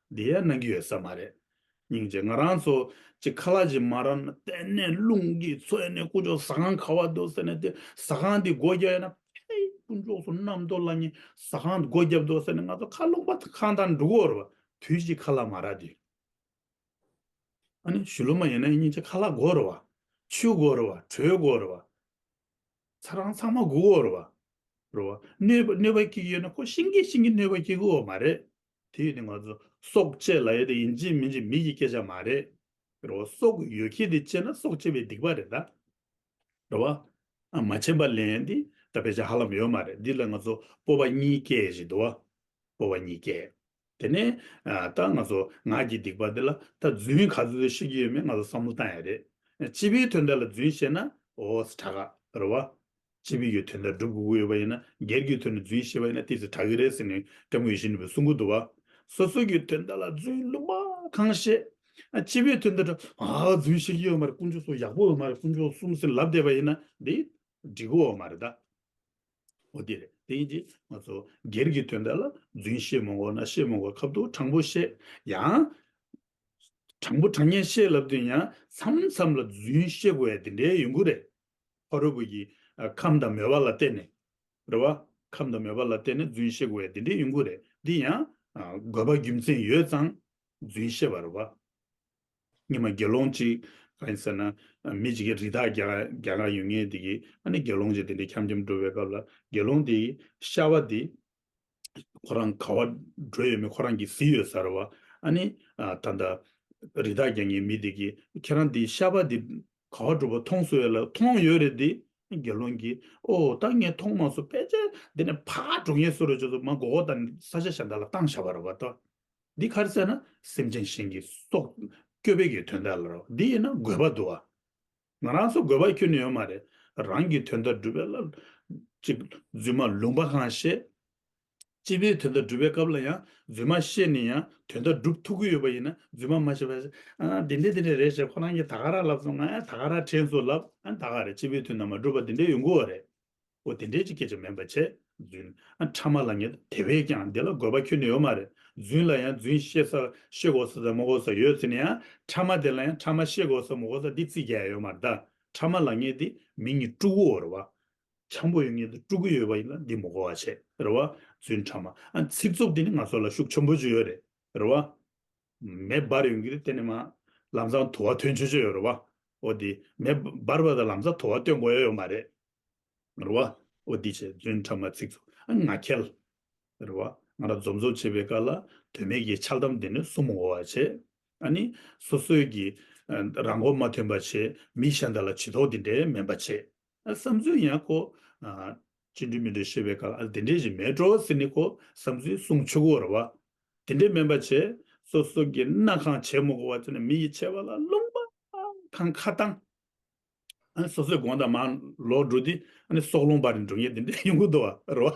བདེ་ཡག་གནང་གི་ཡོད་ས་མ་རེད། སྙིང་རྗེ་ང་རང་ཚོ་གཅིག་ཁ་ལག་གཅིག་མ་རང་གཏན་ནས་རླུང་གིས་འཚོས་ནས་དཀོན་མཆོག་ཟ་ཁང་ག་བ་འདུག་ཟེར་ནས་དེ་ཟ་ཁང་འདི་སྒོ་རྒྱབ་ཡ་ན་ཕེ་དཀོན་མཆོག་སུ་ནམ་འདོག་ལ་ཉེ་ཟ་ཁང་སྒོ་རྒྱབ་འདུག་ཟེར་ནས་ང་ཚོ་ཁ་རླུང་པ་ཁང་དང་འདྲུ་གོ་རུ་བ་དུས་གཅིག་ཁ་ལག་མ་ར་དུས། ཨ་ནི་ཞུ་ལུ་མ་ཡིན་ན་སྙིང་རྗེ་ཁ་ལག་སྒོ་རུ་བ་ཆུ་སྒོ་རུ་བ་གྲོད་སྒོ་རུ་བ་ཚ་རང་ཚང་མ་སྒུག་གོ་རུ་བ་རུ་བ་གནོད་པ་གནོད་པ་སྐྱེ་གི་ཡོད་ན་ཁོ་ཤིང་གི་ཤིང་གི་གནོད་པ་སྐྱེ་གི་འོ་མ་རེད། དེ་ཡོད་དེ་ང་ཚོ་སྲོག་བཅད་ལ་ཡོད་དེ་ཡིན་གཅིག་མིན་གཅིག་མི་གི་སྐད་ཆ་མ་རེད་རེད་བ། སྲོག་ཡོད་ཁྱེད་དེ་བཅད་ན་སྲོག་བཅད་པའི་སྡིག་པ་རེད་ད། རེད་བ། མ་བཅད་པ་ལན་དེ་ད་བེད་ཆ་ཧ་ལམ་ཡོད་མ་རེད་འདི་ལ་ང་ཚོ་སྤོ་བ་གཉིས་སྐྱེ་ཡེ་ཞིག་འདུག་བ། སྤོ་བ་གཉིས་སྐྱེ། དེ་ནས་ད་ང་ཚོ་ངག་གི་སྡིག་པ་དེ་ལ་ད་རྫུན་ག་ཚོད་ཤེས་ཀྱི་ཡོད་མེད་ང་ཚོ་བསམ་བློ་བཏང་ཡ་རེད། སྤྱི་པའི་དོན་དག་ལ་རྫུན་བཤད་ན་ཨོ་ཨོ་ས་གྲག་ག་རེད་བ། སྤྱི་བོའི་ཡུལ་དོན་དང་སྒྲུབ་དགུ་དབྱེ་བ་ཡིན་ན་སྒེར་གྱི་དོན་ནི་རྫུན་ཤེས་པ་ཡིན་ན་ཏི་སེ་བྲག་གི་རས་ཟིན་ནི་སྐྱབས་མགོན་བཞི་ནི་བུ་སྲུང་གུ་དུ་བ། སོ་སོ་ཀྱི་དོན་དག་ལ་རྫུན་བླུགས་པ་གང་བཤད། སྤྱི་བོའི་དོན་དུ་རྫུན་ཤེས་ཀྱི་ཡོད་མ་རེད་དཀོན་མཆོག་སོགས་ཡག་པོ་འོ་མ་རེད་དཀོན་མཆོག་གསུམ་སེམས་ལབ་བསྡད་པ་ཡིན་ན་དེ་འགྲིག་གི་འོ་མ་རེད་ད། འོ་དེ་རེད་དེ་ཡིན་གྱི་ང་ཚོ་སྒེར་གྱི་དོན་དག་ལ་རྫུན་བཤད་མོང་གོ་ན་བཤད་མོང་གོ་ཁབ་དོག་དྲང་པོ་བཤད་ཡང། དྲང་པོ་དྲང་ཉན་བཤད་ལབ་དུས་ཡང་མཚམས་མཚམས་ལ་རྫུན་བཤད་དགོས་ཡ་དེ་འདྲའི་ཡོད་གི་རེད་ཧོ་རུ་བུ་ཡིས། ཁམས་དང་མོས་པ་ལ་བརྟེན་ནས། རེད་བ། ཁམས་དང་མོས་པ་ལ་བརྟེན་ནས་རྫུན་བཤད་དགོས་ཡ་དེ་འདྲའི་ཡོང་གི་རེད། འདི་ཡང། དགོས་པ་རྒྱུ་མཚན་ཡོད་ཙང། རྫུན་བཤད་པ་རེད་བ། ཉི་མ་དགེ་སློང་གཅིག། གང་ཡིན་ཟེར་ན། མི་གཅིག་གིས་རི་དྭགས་བརྒྱ་གང་ཡོད་ངེས་དེ་གིས། ཨ་ནི་དགེ་སློང་གཅིག་དེ་འདྲས་འཁྱམ་འཁྱམ་འགྲོ་བའི་སྐབས་ལ། དགེ་སློང་དེས། ཤ་བ་དེ། ཁོ་རང་ག་བ་འགྲོ་ཡོད་མེད་ཁོ་རང་གིས་གཟིགས་ཡོད་ཟེར་བ། ཨ་ནི། ད་ལྟ། རི་དྭགས་རྒྱང་ངའི་མི་དེ་གིས་ཁྱེད་རང་དེའི་ཤ་པ་དེ། ག་བ་འགྲོ་བ་མཐོང་སོང་ཡོད་ལ་མཐོང་ཡོད་རེད་དེ། དགེ་སློང་གིས། ཨོ། ད་ངས་མཐོང་མ་སོང་ཕལ་ཆེར་འདི་ནས་ཕར་འགྲོ་ངེས་སོ་རེད་བྱས་སོང་མ་མགོ་བོ་དང་ས་ཆ་གཞན་དག་ལ་བཏང་བཞག་པ་རེད་བ་ལྟ། འདི་ག་རེ་ཟེར་ན། སེམས་ཅན་གཞན་གྱི་སྲོག། སྐྱོབ་བའི་གི་དོན་དག་ལ་རོ། འདི་ཡིན་ན་དགོས་པ་འདུག་ཨ། ང་རང་ཚོ་དགོས་པ་ཁྱོན་ནས་ཡོད་མ་རེད། རང་གི་དོན་དག་སྒྲུབ་པའི་བླ། ཅིག། རྫུན་མ་ལུང་པ་གང་བཤད། སྤྱི་པའི་དོན་དག་སྒྲུབ་པའི་སྐབས་ལ་ཡང་རྫུན་མ་བཤད་ནས་ཡང་དོན་དག་སྒྲུབ་ཐུབ་ཀྱི་ཡོད་པ་ཡིན་ན་རྫུན་མ་མ་བཤད་པར། དེ་འདྲས་དེ་འདྲས་རེད་ཞེས་ཁོ་རང་གིས་ད་ག་རག་ལབ་སོང་ང་ཡང་ད་ག་རག་དྲན་སོང་ལབ། ད་ག་རེད་སྤྱི་པའི་དོན་དག་མ་སྒྲུབ་པར་དེ་འདྲས་ཡོང་དགོས་བ་རེད། པོ་དེ་འདྲའི་ཅི་སྐད་ཅིག་མེད་པར་བྱས། བརྫུན། ཕྲ་མ་ལ་ཉེས། དེ་བས་ཀྱང་འདི་ལ་དགོས་པ་ཁྱོད་ནི་ཡོད་མ་རེད། བརྫུན་ལ་ཡང་བརྫུན་ཤེས་ས་ཤེས་དགོས་ས་ཟ་མ་དགོས་ས་ཡོད་ཟེར་ནས་ཡང་ཕྲ་མ་དེ་ལ་ཡང་ཕྲ་མ་ཤེས་དགོས་ས་མི་དགོས་ས་འདི་རྩིས་རྒྱག་ཡ་ཡོད་མ་གདའ། ཕྲ་མ་ལ་ཉེས་ཏེ་མི་ཉིད་སྤྲུག་གོ་རེད་བ། འཁྱམ་པོ་ཡོད་ངེས་ཏེ་སྤྲུག་གི་ཡོད་བ་ཡིན་ལ་འདི་མི་གོ་བ་བྱས་རེད་བ། བརྫུན་ཕྲ་མ། ཚིག་རྩུབ་དེ་ནི་ང་ཚོ་ལ་ཤུགས་ཆེན་པོ་ཅིག་ཡོད་རེད། རེ་བ། མེ་འབར་ཡོང་གི་རེད་གཏན་ནས་མ། ལམ་སང་དུ་བ་ཐོན་ཆོད་ཆོད་ཡོད་རེ་བ། འོ་དེ། མེ། འབར་བ་དང་ལམ་སང་དུ་བ་སྟོན་དགོས་ཡ་ཡོད་མ་རེད། རེ་བ། འོ་དེ་བྱས་རྫུན་ཕྲ་མ་ཚིག་ཚུགས་ཨ་ང་ཁྱལ། རེ་བ། ང་རང་འཛོམས་འཛོམས་བྱེད་པའི་སྐར་ལ། དོན་མེད་ཀྱི་འཆལ་གཏམ་དེ་ནི་གསུམ་འོ་བ་བྱས། ཨ་ནི། སོ་སོས་ཀྱི། རང་མགོ་མ་ཐོན་པ་བྱས། མི་གཞན་དག་ལ་བྱི་དོགས་འདི་འདྲའི་དམན་པ་བྱས། ཨ་བསམ་ཚུལ་ཡང་ཁོ། ཅི་འདྲི་མི་འདྲི་ཤེས་པའི་སྐབས་ཨ་ལ་དེ་འདྲའི་ཞིག་མེད་འགྲོ་ཟེར་ནས་ཁོ་བསམ་ཚུལ་གསུངས་ཆོག་གོ་ར་བ། དེ་འདྲའི་སྨན་པ་བྱས། སོ་སོ་གི་སྣ་ཁང་བྱས་མོ་གོ་བ་ཚོ་ནི་མི་ཡི་ཆེ་བ་ལ་སློང་པ། ཁང་ཁ་བཏང། ཨ་ནི་སོ་སོའི་དགོངས་དག་མ་ལོག་འགྲོ་དུས་ཨ་ནི་སྲོག་སློང་པ་རེད་འགྲོ་ངེས་དེ་འདྲའི་ཡོང་གི་འདུག་ཨ་ར་བ།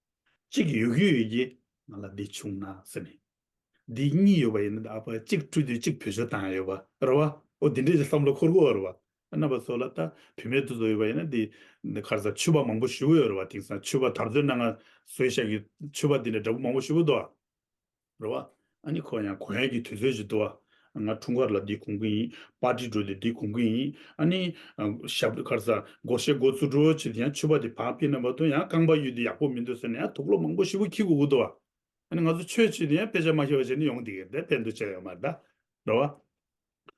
གཅིག་ཡོད་རྒུ་ཡོད་ཀྱི་ང་ལ་འདི་བྱུང་ན་ཟེར་ནས། འདི་གཉིས་ཡོད་པ་ཡིན་ན་ཨ་ཕ་གཅིག་སྤྲུལ་དུས་གཅིག་བུ་ཆུ་དྭངས་ཡོད་པ་རེད་བ། འོ་དེ་འདྲས་ཀྱི་བསམ་བློ་འཁོར་དགོས་བ་རེད་བ། རྣམ་པ་ཚོ་ལ་ལྟ་བུད་མེད་དུ་ཚོ་ཡོད་པ་ཡིན་ན་འདི་ཁར་ཚ་ཆུ་བ་མང་པོ་བཞུ་བོ་ཡོད་རེད་བ་དེང་སང་ཆུ་བ་དར་ཚོད་གནང་ང་བཟོས་ཤག་གི་ཆུ་བ་དེ་འདྲ་འདྲ་པོ་མང་པོ་བཞུ་བོ་འདུག་ཨ། རེད་བ། ཨ་ནི་ཁོ་ཡང་གོ་ཡན་གྱི་དུས་ཚོད་ཅིག་འདུག་བ། ང་འཁྲུངས་སྐར་ལ་འདི་གོང་གི་ཡིན། པར་ཏི་འགྲོ་དུས་འདི་གོང་གི་ཡིན། ཨ་ནི། ཞབས་བྲོ་ཁར་ཟ། སྒོར་གཞས་སྒོར་བཙུར་བྲོ་བྱེད་དུས་ཡང་ཆོས་པ་དེ་བག་ཕེབས་ན་བ་དུ་ཡང་རྐང་པ་གཡུག་དུས་ཡག་པོ་མི་འདུག་ཟེར་ནས་ཡང་དུག་ལོག་མང་པོ་ཞིག་བུ་ཁྱི་གུག་གུག་འདུག་བ། ཨ་ནི་ང་ཚོ་ཆོས་བྱེད་དུས་ཡང་དཔེ་ཆ་མ་ཤེས་པ་བྱས་ནས་ཡོང་དེ་གས་དེ་དཔེ་འདུག་བྱས་ཡོད་མ་རེད་ད། རེད་བ།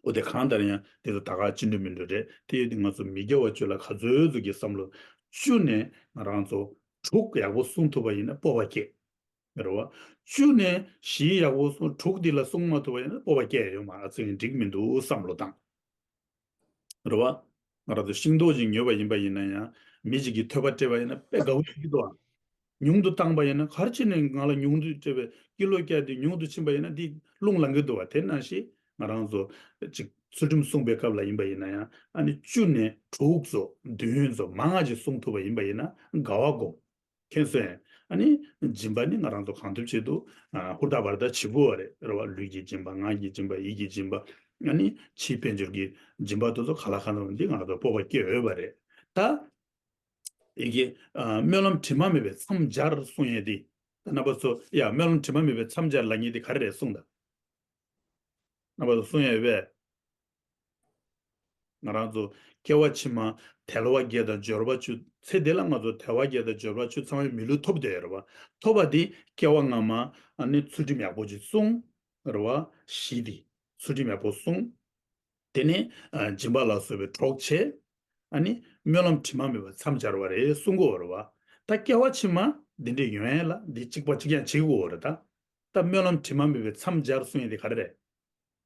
ཨོ་དེ་གང་ལྟར་ཡང་འདི་ལ་ད་ག་ཅི་འགྲོ་མི་འགྲོ་རེད་དེ་ཡོད་དུས་ང་ཚོ་མི་རྒྱ་བ་བཅུ་ལ་ག་ཚོད་ཚོད་ཀྱི་བསམ་བློ་བཅུ་ནས་ང་རང་ཚོ་དྲུག་ཡག་པོ་གསུང་ཐུབ་པ་ཡིན་ན་སྤོབས་པ་སྐྱེས། རེ་བ། བཅུ་ནས་བཞིའི་ཡག་པོ་སོང་དྲུག་འདི་ལ་སོང་མ་ཐུབ་པ་ཡིན་ན་སྤོབས་པ་སྐྱེ་ཡོད་མ་ཚོད་ཡིན་འགྲིག་མི་འདུག་བསམ་བློ་བཏང། རེ་བ། ང་རང་ཚོ་ཤིང་ཏོག་ཅིག་ཉོས་པ་ཡིན་པ་ཡིན་ན་ཡང་མི་ཅིག་གིས་ཐོད་པ་སྤྲད་པ་ཡིན་ན་དཔེ་དགའ་བོ་ཞིག་འདུག་ཨང། ཉུང་དུ་བཏང་པ་ཡིན་ན་གར་ཕྱིན་ནས་ང་ལ་ཉུང་དུ་སྤྲད་པའི་ཀི་ལོ་སྐྱ་དེ་ཉུང་དུ་ཕྱིན་པ་ཡིན་ན་འདི་རླུང་ལང་གི་འདུག་བ་དེ་ན་ཞིག་ང་རང་ཚོ་ཅིག་ཚུལ་ཁྲིམས་སྲུང་པའི་སྐབས་ལ་ཡིན་པ་ཡིན་ན་ཡང་ཨ་ནི་བཅུ་ནས་དྲུག་ཚོ་བདུན་ཚོ་མང་ང་ཅིག་སྲུང་ཐུབ་པ་ཡིན་པ་ཡིན་ན་དགའ་བ་སྒོམ། མཁན་གསོན། ཨ་ནི། སྦྱིན་པ་ནི་ང་རང་ཚོ་གང་ཐུབ་ཆེད་དུ། ཧུར་ཐག་བར་ཐག་བྱེད་དགོས་བ་རེད་རེད་བ། ལུས་ཀྱི་སྦྱིན་པ་ངག་གི་སྦྱིན་པ་ཡིད་ཀྱི་སྦྱིན་པ། ཨ་ནི། ཕྱིའི་དཔལ་འབྱོར་གྱི་སྦྱིན་པ་དེ་ཚོ་ག་ལ་ག་ལ་འདི་ང་རང་ཚོར་སྤོབས་པ་སྐྱེད་འོས་བ་རེད་ད། ཡི་གེ། སྨོན་ལམ་དྲི་མ་མེད་པའི་མཚམས་སྦྱར་གསུང་ཡས་འདི། ད་རྣམ་པ་ཚོ། ཡ། སྨོན་ལམ་དྲི་མ་མེད་པའི་མཚམས་སྦྱར་ལ་ཉེ་འདི་ག་རེ་རེད་གསུང་ད། རྣམ་པ་ཚོ་གསུང་ཡས་བས། ང་རང་ཚོ་སྐྱེ་བ་ཕྱི་མ་དལ་བ་བརྒྱད་དང་སྦྱོར་བ་བཅུ། ཚེ་འདི་ལ་ང་ཚོ་དལ་བ་བརྒྱད་དང་སྦྱོར་བ་བཅུ་ཚང་བའི་མི་ལུས་ཐོབ་འདོད་རེད་བ། ཐོབ་པ་དེ་སྐྱེ་བ་སྔ་མ་ནི་ཚུལ་ཁྲིམས་ཡག་པོ་ཅིག་བསྲུང། རེད་བ། བཞི་དེ་ཚུལ་ཁྲིམས་ཡག་པོ་བསྲུང། དེ་ནས་སྦྱིན་པ་ལ་བཟོད་པའི་གྲོགས་བྱས། ནི་སྨོན་ལམ་དྲི་མ་མེད་པར་མཚམས་སྦྱར་བ་རེད་གསུང་གོ་རེད་བ། ད་སྐྱེ་བ་ཕྱི་མ་འདི་འདྲའི་ཡོན་ལ་འདི་གཅིག་པ་གཅིག་ཀྱང་བྱེད་དགོས་རེད་ད། ད་སྨོན་ལམ་དྲི་མ་མེད་པའི་མཚམས་སྦྱར་གསུང་ཡིན་དེ་ག་རེ་རེད།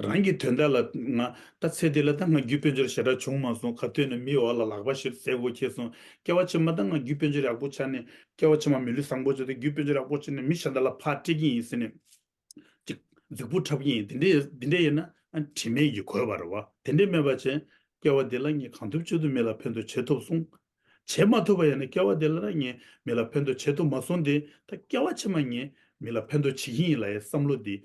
རང་གི་དོན་དག་ལ་ང། ད་ཚེ་འདི་ལ་ད་ང་རྒྱུད་དཔོན་ཆོར་ཞེ་དྲག་བྱུང་མ་སོང་ག་ཐོས་ནས་མིའི་འོག་ལ་ལག་པ་ཞིབ་ཟས་བོ་ཁྱེར་སོང་སྐྱེ་བ་ཕྱི་མ་ད་ང་རྒྱུད་དཔོན་ཆོར་ཡག་པོ་ཆགས་ནས་སྐྱེ་བ་ཕྱི་མ་མི་ལུས་བཟང་པོ་བྱོས་ཏེ་རྒྱུད་དཔོན་ཆོར་ཡག་པོ་བྱས་ནས་མི་གཞན་དག་ལ་ཕ་སྤྲད་ཀྱིན་ཡིན་ཟེར་ནས། ཅིག། རྫིག་པོ་འཁྲབ་ཀྱིན་ཡིན་དེ་འདྲས་ཡིན་ན་དྲི་མེད་ཀྱི་གོས་བར་བ་དེ་འདྲས་མེད་པ་བྱས། སྐྱེ་བ་འདི་ལ་ངས་གང་ཐུབ་བྱེད་དུ་མི་ལ་ཕན་དུ་བྱེད་ཐུབ་སོང། བྱེད་མ་ཐུབ་པ་ཡིན་ན་སྐྱེ་བ་འདི་ལ་ད་ངས་མི་ལ་ཕན་དུ་བྱེད་ཐུབ་མ་སོང་སྟེ་ད་སྐྱེ་བ་ཕྱི་མ་ངས་མི་ལ་ཕན་དུ་བྱེད་ཀྱིན་ཡིན་ལ་ཡའི་བསམ་བློ་འདི།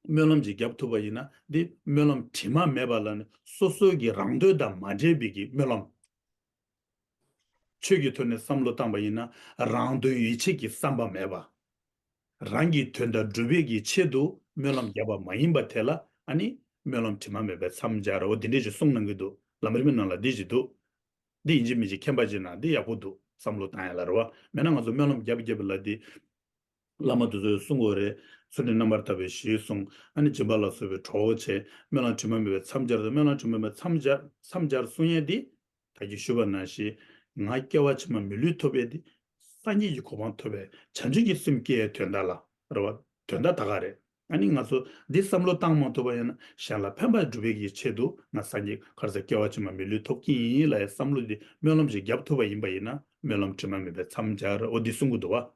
སྨོན་ལམ་གྱིས་བརྒྱབ་ཐུབ་པ་ཡིན་ན་འདི་སྨོན་ལམ་དྲི་མ་མེད་པ་ལ་ནི་སོ་སོའི་གི་རང་དོན་དང་མ་འབྲེལ་བའི་གི་སྨོན་ལམ། ཆོས་ཀྱི་དོན་ནི་བསམ་བློ་བཏང་པ་ཡིན་ན་རང་དོན་ཡིད་ཆེས་ཀྱི་བསམ་པ་མེད་པ། རང་གི་དོན་དང་སྒྲུབ་པའི་གི་ཆེད་དུ་སྨོན་ལམ་བརྒྱབ་པ་མ་ཡིན་པ་དེ་ལ་ཨ་ནི་སྨོན་ལམ་དྲི་མ་མེད་པའི་མཚམས་སྦྱར་རོ་འདི་འདྲས་ཀྱི་གསུང་གནང་གི་འདུག་ལམ་རིམ་ནང་ལ་འདི་ཅིག་འདུག་འདི་ཡིན་གཅིག་མིན་གཅིག་མཁྱེན་པ་ཅིག་ན་འདི་ཡག་པོ་འདུག་བསམ་བློ་བཏང་ཡ་ལ་རེ་བ་མེད་ན་ང་ཚོ་སྨོན་ལམ་བརྒྱབ་བརྒྱབ་ལ་འདི། བླ་མ་དེ་ཚོས་གསུངས་འོ་རེད། ཚུལ་ཁྲིམས་རྣམ་པར་དག་པའི་གཞིའི་གསུང། ཨ་ནི་སྦྱིན་པ་ལ་གསོལ་བའི་གྲོགས་བོ་ཆེ། སྨོན་ལམ་དྲི་མ་མེད་པའི་མཚམས་སྦྱར་དང་སྨོན་ལམ་དྲི་མ་མེད་མཚམས་སྦྱར། མཚམས་སྦྱར་གསུང་ཡན་འདི་དག་གིས་ཞུ་བ་ན་ཞེས། ང་སྐྱེ་བ་ཕྱི་མ་མི་ལུས་ཐོབ་པས་ཏེ། སངས་རྒྱས་ཀྱི་གོ་འཕང་ཐོབ་པས་བྱང་ཆུབ་ཀྱི་སེམས་སྐྱེའི་དོན་དག་ལ་རེ་བ། དོན་དག་ད་ག་རེད། ཨ་ནི་ང་ཚོ་འདི་བསམ་བློ་བཏང་མ་ཐུབ་པ་ཡང་ན་གཞན་ལ་ཕན་པ་སྒྲུབ་པའི་ཀྱི་ཆེད་དུ་ང་སངས་རྒྱས་ཀར་ས་སྐྱེ་བ་ཕྱི་མ་མི་ལུས་ཐོབ་ཀྱི་ཡིན་ལ་ཡང་བསམ་བློ་འདི་སྨོན་ལམ་གྱིས་བརྒྱབ་ཐུབ་པ་ཡིན་པ་ཡིན་ན་སྨོན་ལམ་དྲི་མ་མེད་པའི་མཚམས་སྦྱར་འོ་འདི་གསུང་གི་འདུག་བ།